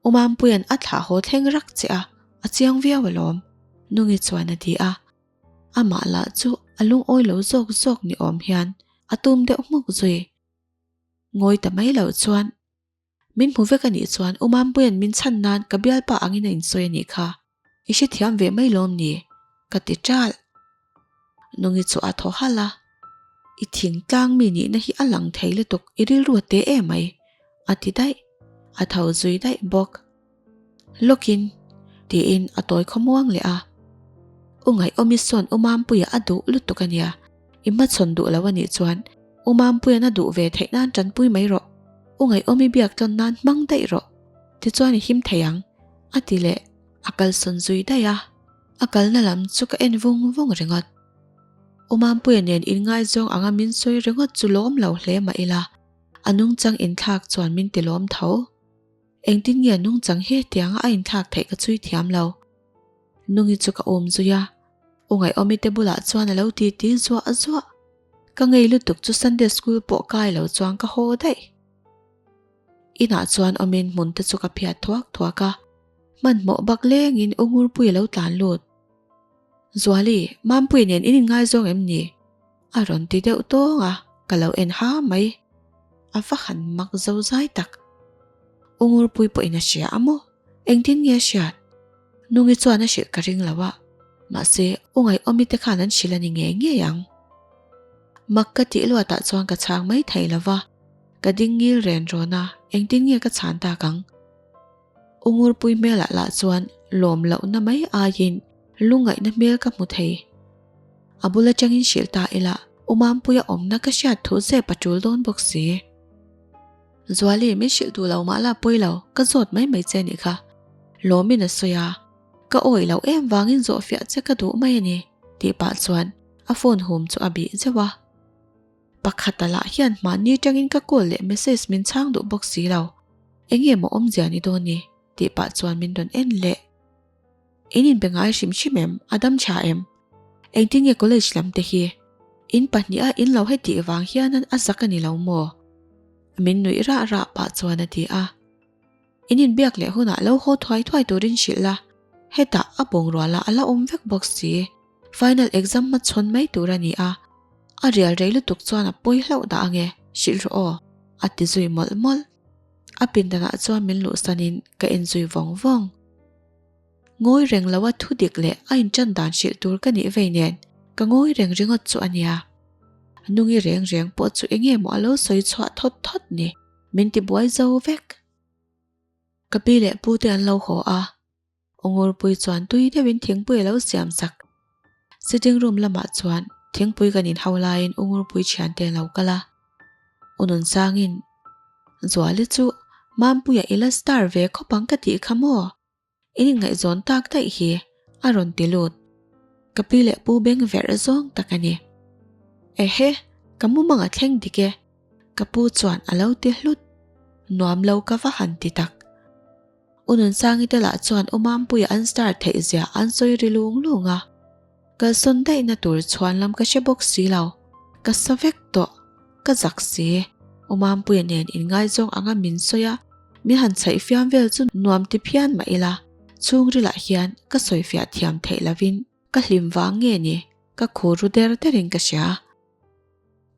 U Mampuia'n a thlah haw thleng rak che a, a chiang viau a lawm. Nungi chuan a ti a. Amah lah chu a lungawi lo zawk zawk ni awm hian a tum deuh hmuk zui. Ngawi ta mai lo chuan. Min hmu vek a nih chuan Umampuia'n min chhan nan ka bialpa angin a insawi a nih kha. I hre thiam ve mai lawm ni? Ka ti ṭalh. Nungi chu a thaw halh a, I thingtlang mi nihna hi a lang thei lutuk, i rilru a teh e mai, a ti daih. A tho zui daih bawk. Lokin, tiin a tawi khaw muang leh a. U ngaih awm i sawn U Mampuia a duh lutuk a nia. I hmachhawn duh lo a nih chuan U Mampuian a duh ve theih nan tanpui mai rawh. U ngaih awm i biak tawn nan hmang daih rawh. Tichuan i him thei ang, a ti leh. A kalsawn zui daih a, a kalna lam chu ka en vung vung ringawt. U Mampuia nen in ngaizawng anga min sawi ringawt chu lawm lo hle mah ila, a nungchang inthlak chuan min ti lawm tho. Engtin nge a nung chang hi tianga a inthlak theih ka chhui thiam lo. Nungi chu ka awm zui a, u ngaihawmi te bulah chuan a lo titi zuah zuah. Ka ngei lutuk chu Sunday school pawh kai lo chuang ka haw daih. Inah chuan awmin hmun te chu ka phiat thuak thuak a, hmanhmawh bak lengin u Ngurpuii a lo tlan lut. Zuali, Mampuii nen in inngaizawng em ni? A rawn ti deuh tawng a, ka lo en ha mai. A va han mak zo zai tak. U Ngurpuii pawhin a hria a maw? Engtin nge a hriat? Nungi chuan a hrilh ka ring lo a, mahse u ngaiawmi te khan an hrilh a ni ngei ngei ang. Mak ka tih luat ah chuan ka chhang mai thei lo va, ka ding ngil ren rawn a, engtin nge ka chhan tak ang? U Ngurpui hmelah lah chuan lawm lohna mai aiin lu ngaihna hmel ka hmu thei. A bul atangin hrilh ta ila, U Mampuia awmna ka hriat thuh zep a tul dawn bawk si. Zuali, min hrilh duh lo mah la pawi lo, ka zawt mai mai che nih kha. Lawmin a sawi a, ka awih loh em vangin zawhfiah che ka duh mai a ni, tih pah chuan a phone hum chu a bih zeuh a. Pakhat a lah hian mahni tangin ka call leh message min chhang duh bawk si lo. Enge maw awmzia ni dawn ni? tih pah chuan min rawn en hle. In inbe ngai hrim hrim em? A dam tha em? Engtin nge college lam te hi? In pahnih a in lo hetih vang hian a zak a ni lo maw? Min nuih rah rah pah chuan a ti a. In in biak leh hunah lo haw thuai thuai turin hrilh la, hetah a bawngrualah a la awm vek bawk si. Final exam hmachhawn mai tur a ni a, a rial rei lutuk chuan a pawi hlauh dah ange, hrilh rawh aw, a ti zui mawlh mawlh. A pindanah chuan min luhsanin ka en zui vawng vawng. Ngawi reng lo a thu dik leh a in tan dan hrilh tur ka nih vei nen, ka ngawi reng ringawt chu a nia. Nungi reng reng pawh chu enge maw a lo sawi chhuah thawt thawt ni. Min ti buai zo vek. Ka pi leh pu te an lo haw a. Ungurpui chuan tui deuhin thingpui a lo siam sak. Sitting room lamah chuan thingpui kan in hau laiin Ungurpui thian te a lo kal a. U Nunsangin, Zuali chu Mampuia i la star ve khawp ang ka tih kha maw? I ni ngaihzawn tak daih hi a rawn ti lut. Ka pi leh pu beng verh zawng tak a ni. Ehe, ka mumang a thleng dik e, ka pu chuan a lo ti hlut. Nuam lo ka va han ti tak. U Nunsangi te lah chuan U Mampuia an star theih zia an sawi ri lung lung a. Ka zawn daihna tur chhuan lam ka hre bawk si lo, ka sa vek tawh, ka zak si. U Mampuia nen in ngaizawng anga min sawi a, min han chhaih fiam vel chu nuam ti phian mah ila, chhungrila hian ka sawifiah thiam theih lovin ka hlim vang nge ni? Ka khu ru der derin ka hria.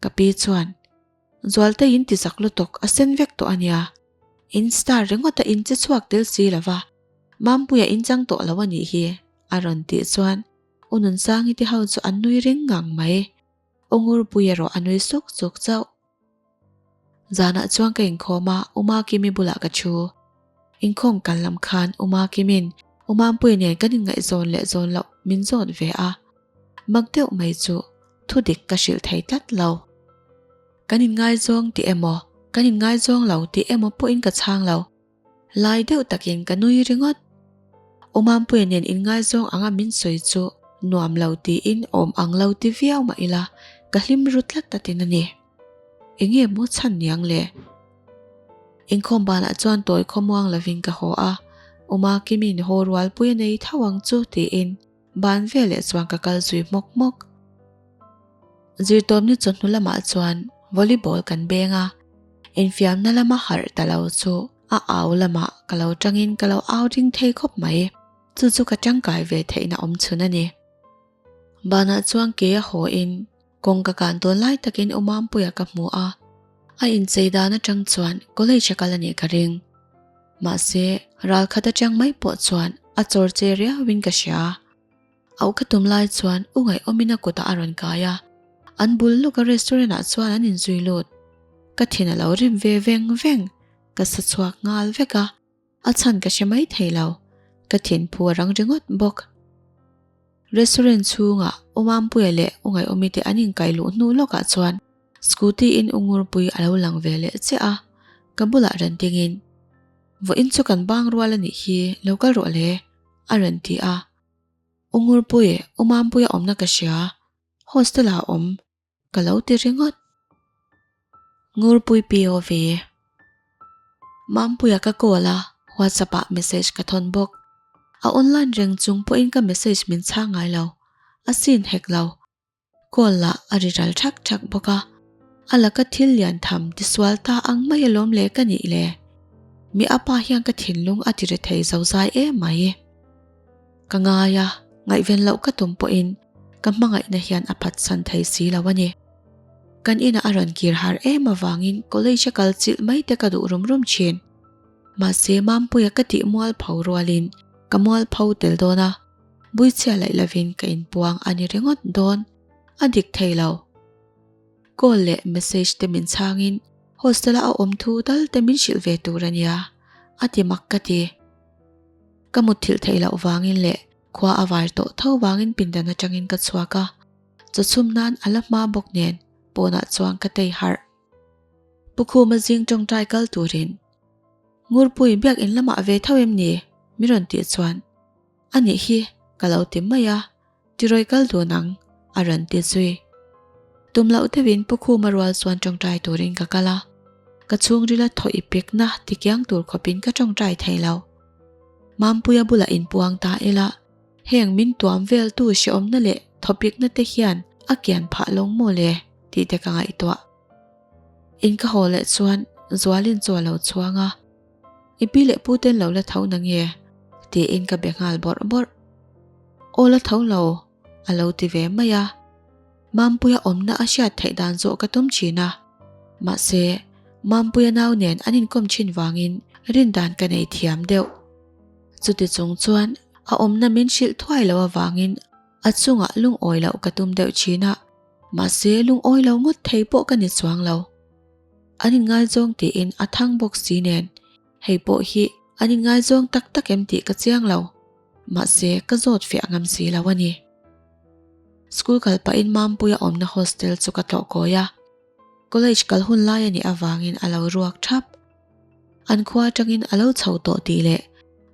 Ka pi chuan. Zualte in ti zak lutuk a sen vek tawh a nia. In star ringawta in che chhuak tel si lova, Mampuia in chang tawh lo a nih hi, a rawn tih chuan U Nunsangi te ho chu an nui ring ngang mai. U Ngurpui erawh a nui suk suk chauh. Zanah chuan ka inkhawm a, U Makimi bulah ka thu. Inkhawng kal lam khan Uma Kimin Umampuii nen kan inngaihzawn leh zawn loh min zawt ve a. Mak deuh mai chu thu dik ka hrilh thei tlat lo. Kan inngaizawng tih emaw, kan inngaizawng lo tih emaw pawhin ka chhang lo. Lai deuh takin ka nui ringawt. Umampuii nen inngaizawng anga min sawi chu nuam lo tiin awm ang lo ti viau mah ila ka hlim ru tlat a tin a ni. Enge maw chhan niang le? Inkhawm banah chuan tawi khawmuang lovin ka haw a, Uma Kimin haw rual pui a nei tho ang chu tiin ban veleh chuan ka kal zui hmawk hmawk. Zirtawpni chawhnu lamah chuan volleyball kan beng a, infiamna lama harh ta lo chu a au lamah ka lo tangin ka lo au ring thei khawp mai. Chu chu ka tangkai ve theihna awm chhun a ni. Banah chuan kei a haw in. Kawng ka kah dawn lai takin Awmampuia ka hmu a, a inchei dan atang chuan college a kal a nih ka ring. Mahse, ral khat atang mai pawh chuan a chawr che riauin ka hria a. Auh ka tum lai chuan U Ngaihawmin a kutah a rawn kai a, an bul lawka restaurant ah chuan an inzui lut. Ka thin a lo rip ve veng veng, ka sa chhuak nghal vek a. A chhan ka hre mai thei lo. Ka thinphu a rang ringawt bawk. Restaurant chhungah U Mampuia leh U Ngaiawmi te an inkaih luh hnu lawkah chuan scooty in U Ngurpui a lo lang ve leh che a. Ka bulah ran dingin, Vawh in chu kan bang rual a nih hi, lo kal rawh le, a rawn ti a. U Ngurpui, U Mampuia awmna ka hria. Hostel-ah a awm. Ka lo ti ringawt. Ngurpui POV, Mampuia ka call a, WhatsApp ah message ka thawn bawk. A online reng chung pawhin ka message min chhang ngai lo, a scene hek lo. Call lah a ri ral thak thak bawk a. A la ka thil lian tham tisual ta ang mai alawm le ka nih le. Mi apa hian ka thinlung a ti rethei zozai em mai. Ka ngai a, ngaihven loh ka tum pawhin ka hmangaihna hian a phatsan thei si lo a ni. Kan inah a rawn kir har em avangin college a kal chilh mai te ka duh rum rum thin. Mahse, Mampuia ka tih mual pho rualin ka mual pho tel dawn a, buichhia laih lovin ka inpuang a ni ringawt dawn, a dik thei lo. Call leh message te min chhangin hostela a awm thu dal te min hrilh ve tur a nia, a ti mak ka ti. Ka mut thilh theih loh vangin leh khua a var tawh tho vangin pindan atangin ka chhuak a, chaw chhum nan a la hma bawk nen pawnah chuan ka tei harh. Pu Khuma zing tawngtai kal turin, Ngurpuii biak in lamah ve tho em ni? min rawn tih chuan, Anih hi, ka lo ti mai a, Ti rawi kal dawn ang, a rawn ti zui. Tum loh deuhin Pukhuma rual chuan tawngtai turin ka kal a, ka chhungril a thaw i pek na ti kiang tur khawpin ka tawngtai thei lo. Mampuia bula inpuang ta ila heng min tuam vel tu siawmna leh thaw pekna te hian a kian phah lawng maw le tih te ka ngaihtuah. In ka haw leh chuan Zualin chu a lo chuang a. I pi leh pu ten lo la tho na nge? tiin ka be nghal bawrh bawrh. Aw la tho lo, a lo ti ve mai a. Mampuia awmna a hriat theih dan zawh ka tum thin a. Mahse, Mampuia nau nen an inkawm thin vangin rin dan ka nei thiam deuh. Chuti chung chuan a awmna min hrilh thuai lo avangin a chungah lungawi loh ka tum deuh thin a. Mahse, lungawi lo ngawt thei pawh ka ni chuang lo. An inngaizawng tiin a thang bawk si nen, hei pawh hi an inngaizawng tak tak em tih ka chiang lo, mahse ka zawt fiah ngam si lo a ni. School kal pahin Mampuia awmna hostel chu ka tlawhkawi a, college kal hun lai a nih avangin a lo ruak thap. An khua atangin a lo chho tawh tih leh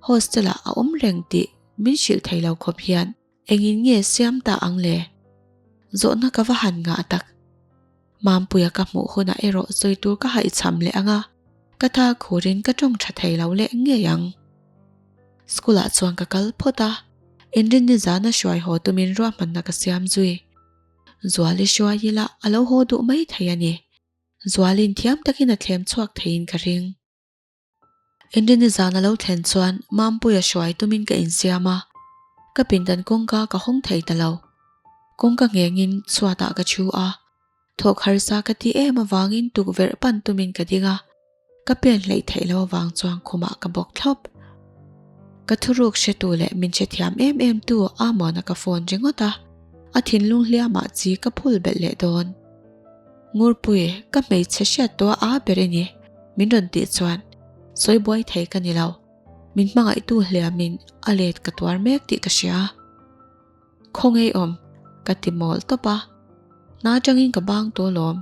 hostel-ah a awm reng tih min hrilh thei lo khawp hian Engin nge siam ta ang le? Zawhna ka va han ngah tak. Mampuia ka hmuh hunah erawh sawi tur ka haichham leh ang a, ka tha khurin ka tawng tha thei lo leh ngei ang. School-ah chuan ka kal phawt a, Inrinni zan a hruai haw tumin ruahmanna ka siam zui. Zuali hruai ila a lo haw duh mai thei a ni. Zuali'n thiam takin a thlem chhuak theiin ka ring. Engine-i zan a lo thlen chuan Mampuia hruai tumin ka insiam a, ka pindan kawngka ka hawng thei ta lo. Kawngka nghengin chhuatah ka thu a, thawk harsa ka ti em avangin tukverh pan tumin ka ding a, ka pian hleih theih lo avang chuan khumah ka bawk thlawp. Ka thuruk hretu leh min hre thiam em em tu Amon-a ka phone ringawt a, a thinlung hliamah chi ka phul belh leh dawn. Ngurpuii, ka hmeichhe hriat tawh a ber eni, min rawn tih chuan sawi buai thei ka ni lo, min hmangaihtu hliamin a let ka tuar mek tih ka hria. Khawngei awm, ka ti mawl tawp a, hna tangin ka bang tawh lawm,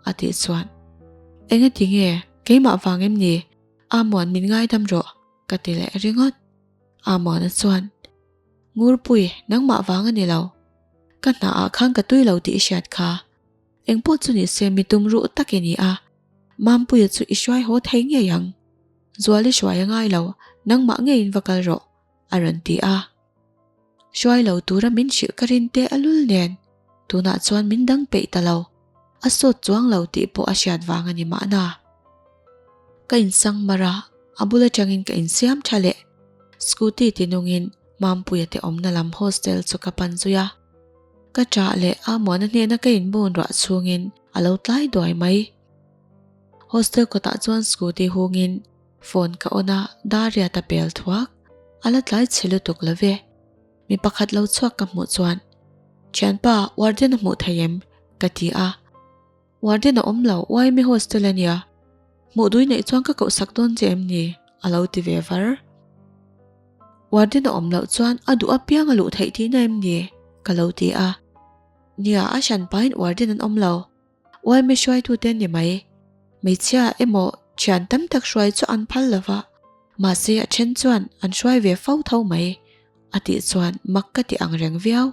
a tih chuan. Engati nge, keimah vang em ni, a muan min ngaidam rawh, ka ti leh ringawt. A muana chuan, Ngurpuii, nangmah vang a ni lo, ka hna ah khan ka tui lo tih i hriat kha. Engpawh chu ni se, mi tum ruh tak i ni a, Mampuia chu i hruai haw thei ngei ang, Zual i hruai a ngai lo, nangmah ngeiin va kal rawh, a rawn ti a. Hruai lo tura min hrilh ka rin te a lul nen, tunah chuan min dang peih ta lo, a sawt chuang lo tih pawh a hriat vang a ni mahna. Ka in sang mar a, a bul atangin ka in siam tha leh, Scooty ti nungin Mampuia te awmna lam hostel chu ka pan zui a. Ka chah leh a muana hnena ka inbawn ruah chhungin a lo tlai duai mai. Hostel kawtah chuan scooty hungin phone ka on a, Dariat a pel thuak. A la tlai chhe lutuk lo ve. Mi pakhat lo chhuak ka hmuh chuan, Thianpa, warden a hmuh theih em? ka ti a. Warden a awm lo, why me hostel a nia? Hmuhdui neih chuan ka kohsak dawn che em ni? a lo ti ve var. Warden a awm loh chuan a duh apiang a luh theih tihna em ni? ka lo ti a. Nia, a hran pain warden an awm lo, why me hruaitu te a ni mai? Hmeichhia emaw thian tam tak hruai chu an phal lo va, mahse a then chuan an hruai ve fo tho mai, a tih chuan mak ka ti angreng viau.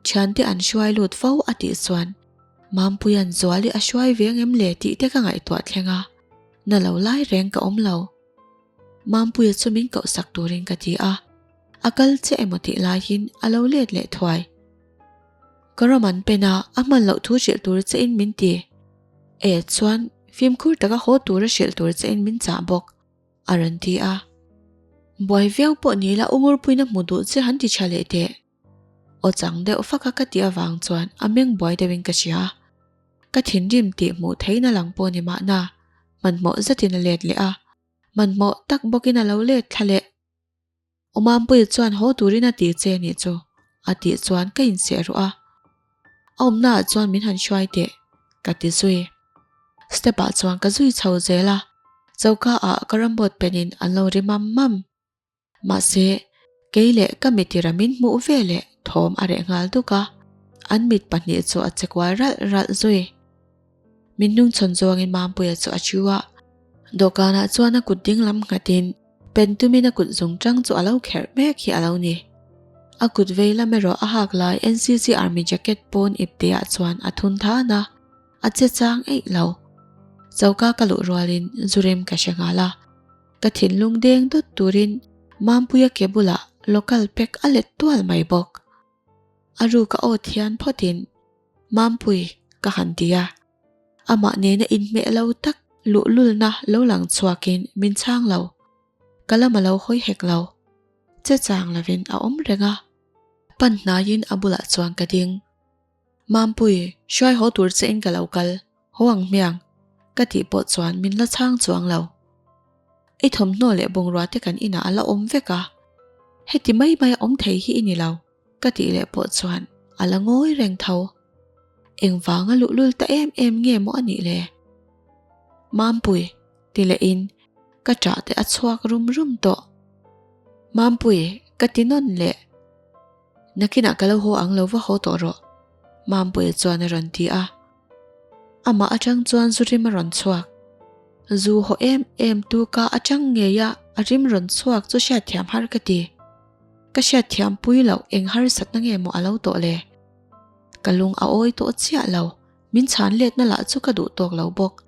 Thiante an hruai lut fo a tih chuan Mampuii an zual hi a hruai ve ngem le tih te ka ngaihtuah thleng a, na lo lai reng ka awm lo. Mampuia chumin kohsak turin ka ti a, a kal che emaw tih laiin a lo let leh thuai. Ka ram an pen a, a hman loh thu hrilh tur che in min ti. E chuan fimkhur taka haw tur a hrilh tur che in min chah bawk, a rawn ti a. Buai viau pawh nila Ungurpuina hmu duh che han ti tha leh teh. Aw chang deuh fak a ka tih avang chuan a meng buai deuhin ka hria. Ka thinrim tih hmuh theihna lang pawh ni mahna hmanhmawh zatin a let leh a, hmanhmawh tak bawkin a lo let thla leh. Aw Mampuii chuan haw turin a ti che nih chu? a tih chuan ka inseh rawh a. A awmnaah chuan min han hruai teh ka ti zui. Step ah chuan ka zui chho zel a, choka ah ka ram bawt penin an lo ri mam mam. Mahse, kei leh ka mitir a min hmuh ve leh thawm a reh nghal duk a, an mit pahnih chu a che kual ralh ralh zui. Min nung chhawn zawngin Mampuia chu a ṭhu a, dawhkanah chuan a kut dinglam nghatin pen tumin a kut zung ṭang chu a lo kherh mek hi a lo ni. A kut vei lam erawh a hak lai NCC Army jacket pawn ip tihah chuan a thun tha na, a che chang eih lo. Choka ka luh rualin zu rem ka hre nghal a. Ka thinlung deng dawt turin Mampuia ke bulah local pek a let tual mai bawk. A ruk a awt hian phawtin, Mampui, ka han ti a. Amah nena inhmeh lo tak luhlulna lo lang chhuakin min chhang lo. Ka lam a lo hawi hek lo. Che chang lovin a awm reng a. Pan hnaiin a bulah chuan ka ding. Mampuii, hruai haw tur che in ka lo kal, haw ang hmiang, ka tih pawh chuan min la chhang chuang lo. I thawmhnaw leh bungrua te kan inah a la awm vek a, heti mai mai a awm thei hi i ni lo, ka tih leh pawh chuan a la ngawi reng tho. Engvang a luhlul ta em em nge maw a nih le? Mampuii, ti leh in ka chah te a chhuak rum rum tawh. Mampuii, ka ti nawn le. Nakinah ka lo haw ang lo va haw tawh rawh, Mampuia chuan a rawn ti a. Amah atang chuan zu rim a rawn chhuak. Zu haw em em tu ka atang ngei a, a rim rawn chhuak chu hriatthiam har ka ti. Ka hriatthiam pui loh, eng harsatna nge maw a lo tawh le? Ka lung a awi tawh chiah lo, min chhan letna lah chu ka duh tawk lo bawk.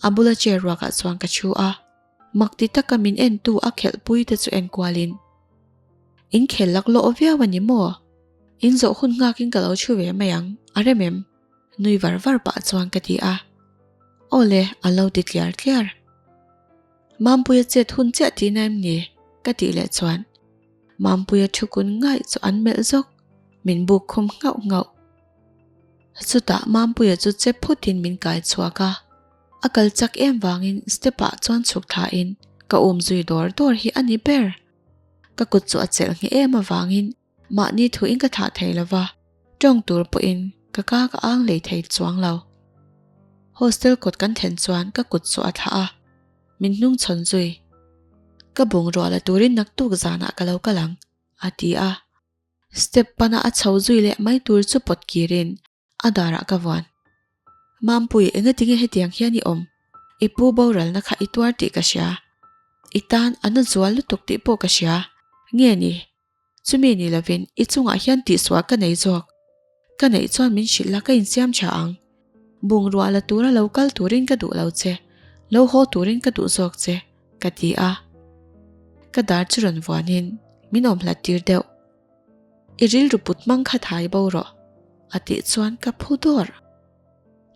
A bula chair ruakah chuan ka thu a. Mak ti taka min en tu a khelh pui te chu enkual in in khel lak lawh viau a ni maw? In zawh hun nghak in ka lo thu ve mai ang a rem em? Nui var var pah chuan ka ti a, aw le a lo ti tliar tliar. Mampuia chet hun chiah ti na em ni? Ka tih leh chuan Mampuia thu kun ngai chu an melh zawk, min buk khum nghauh nghauh. Chutah Mampuia chu che phut in min kai chhuak a. A kal chak em vangin step ah chuan chhuk thla in ka um zui dawr dawr hi a ni ber. Ka kut chu a chelh nghe em avangin mahni thu in ka thlah thei lo va, tawng tur pawh in ka ka ka ang lei thei chuang lo. Hostel kawt kan then chuan ka kut chu a thlah a, min hnung chhawn zui. Ka bungrua la turin naktuk zan ah ka lo kal ang, a ti a. Step pan ah a chho zui leh mai tur chu pawt kir in A darah ka vuan. Mampuii, enga tinge hetiang hian i awm? I pu boralna kha i tuar tih ka hria. I tan a na zual lutuk tih pawh ka hria. Nge ni? Chumi ni lovin i chungah hian tihsuah ka nei zawk. Ka neih chuan min hrilh la, ka insiam tha ang. Bungrua la tura lo kal turin ka duh lo che, lo haw turin ka duh zawk che, ka ti a. Ka dar chu rawn vuanin, Min awm hlat tir deuh. I rilru put hmang kha thai bo rawh, a tih chuan ka phu dawr.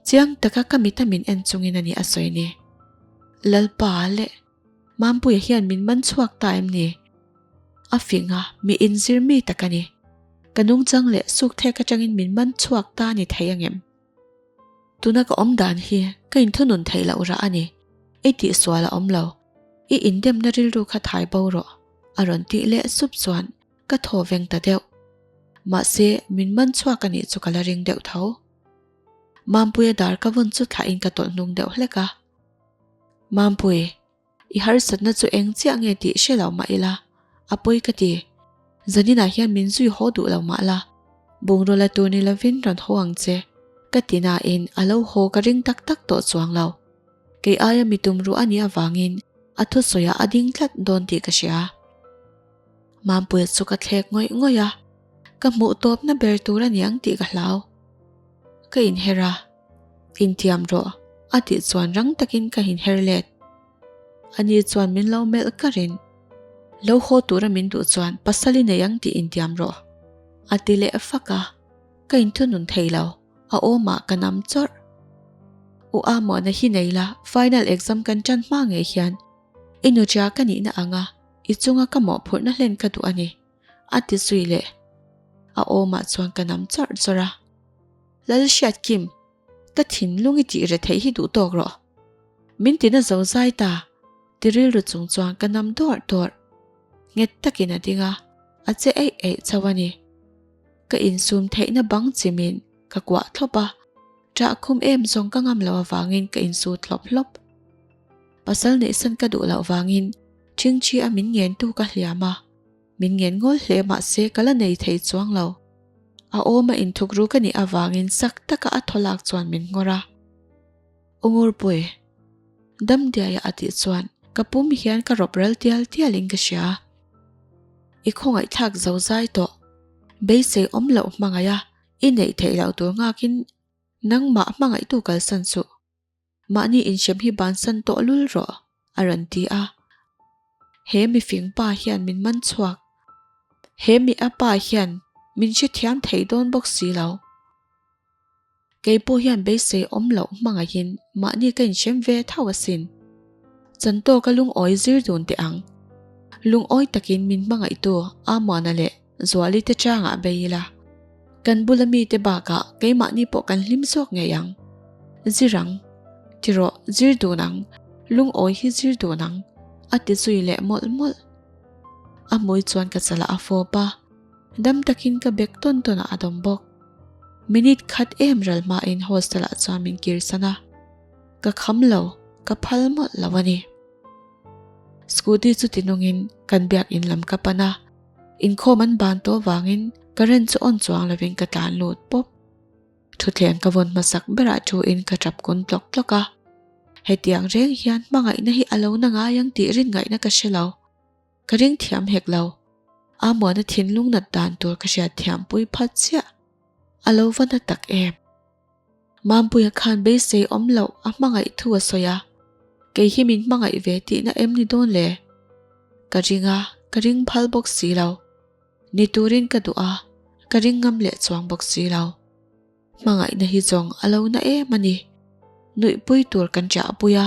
Chiang taka ka mita min en chungin a nih a sawi ni. Lalpa leh Mampuia hian min man chhuak ta em ni? A fing a, mi inzir mi tak a ni. Ka nungchang leh sukthek atangin min man chhuak ta ni thei angem? Tuna ka awm dan hi ka inthunun theih loh rah a ni, i tih sual a awm lo, i indemna rilru kha thai bo rawh, a rawn tih leh sup chuan ka thaw veng ta deuh. Mahse, min man chhuak a nih chu ka la ring deuh tho. Mampuia dar ka vawn chu thlahin ka tawlh hnung deuh hlek a. Mampui, I harsatna chu eng chiah nge tih hre loh mah ila, a pawi ka ti. Zaninah hian min zui haw duh lo mah la, bungraw la tur ni lovin rawn haw ang che, ka ti nain a lo haw ka ring tak tak tawh chuang lo. Kei aia mi tum ruah a nih avangin a thusawiah a ding tlat dawn tih ka hria. Mampuia chu ka thlek ngawih ngawih a, ka hmuh tawpna ber tur a ni ang tih ka hlau. Ka inher a, intiam rawh a tih chuan rang takin ka inher let. Ani chuan min lo melh karh in, Lo haw tura min duh chuan pasal i nei ang tih intiam rawh a ti leh fak a, ka inthunun thei lo, a awmah ka nam chawrh. U Amuana hi nei la, final exam kan tan hma ngei hian i nutia ka nihna ang a, I chunga ka mawhphurhna hlen ka duh a ni, a ti zui leh a awmah chuan ka nam chawrh chawrh a. Lalhriat Kim, ka thinlung i tih reh theih hi duh tawk rawh. Min ti na zo zai ta, ti rilru chung chuan ka nam dawrh dawrh. Nghet takin a ding a, a che eih eih chauh a ni. Ka insum theihna bang chimin ka kuah thlawp a, ṭah khum em zawng ka ngam loh avangin ka insu thlawp hlawp. Pasal neihsan ka duh loh vangin. Chingchi a min ngen tu ka hliam a, min ngen ngawl hle mah se ka la nei thei chuang lo. A awma inthuk ru ka nih avangin sak taka a thawlak chuan min ngawr a. Ungurpuii. Damdiaia a tih chuan ka pum hian ka rawp ral tial tialin ka hria a. I khawngaihthlak zo zai tawh. Beisei awm loh hmangaia i neih theih loh tur ngakin nangmah hmangaihtu kalsan chuh. Mahni inhrem hi bansan tawh lul rawh, a rawn ti a. He mifing pa hian min man chhuak. He mi a pa hian min hrethiam thei dawn bawk si lo. Kei pawh hian beisei awm loh hmangahin mahni ka inhrem ve thauh asin. Chantawka lungawi zir dun teh ang. Lungawi takin min hmangaihtu Amuana leh Zuali te changah bei ila, kan bula mite bakah keimahni pawh kan hlim zawk ngei ang. Zir ang, ti rawh, zir dun ang, lungawi hi zir dun ang, a ti zui leh mawlh mawlh. A hmui chuan ka chalah a fawp a, dam takin ka bag tawn tawnah a dawm bawk. Minute khat em ral hmain hostelah chuan min kir san a, ka kham lo, ka phal mawlh lo a ni. Scooty chu tinawngin kan biak in lam ka pan a, Inkhawm an ban tawh vangin ka rent chu on chuang lovin ka tlan lut pawp. Thutthleng ka vawn hmasak berah thu in ka tap kun tlawk tlawk a. Hetiang reng hian hmangaihna hi a lo na ngai ang tih rin ngaihna ka hre lo. Ka ring thiam hek lo. Ahmuana thinlung natdan tur ka hriat thiam pui phat chiah. A lo va na tak em. Mampuia khan beisei awm loh a hmangaih thu a sawi a, kei hi min hmangaih ve tihna em ni dawn le? Ka ring a, ka ring phal bawk si lo. Ni turin ka duh a, ka ring ngam leh chuang bawk si lo. Hmangaihna hi zawng a lo na em a ni. Nuihpui tur kan chahpui a,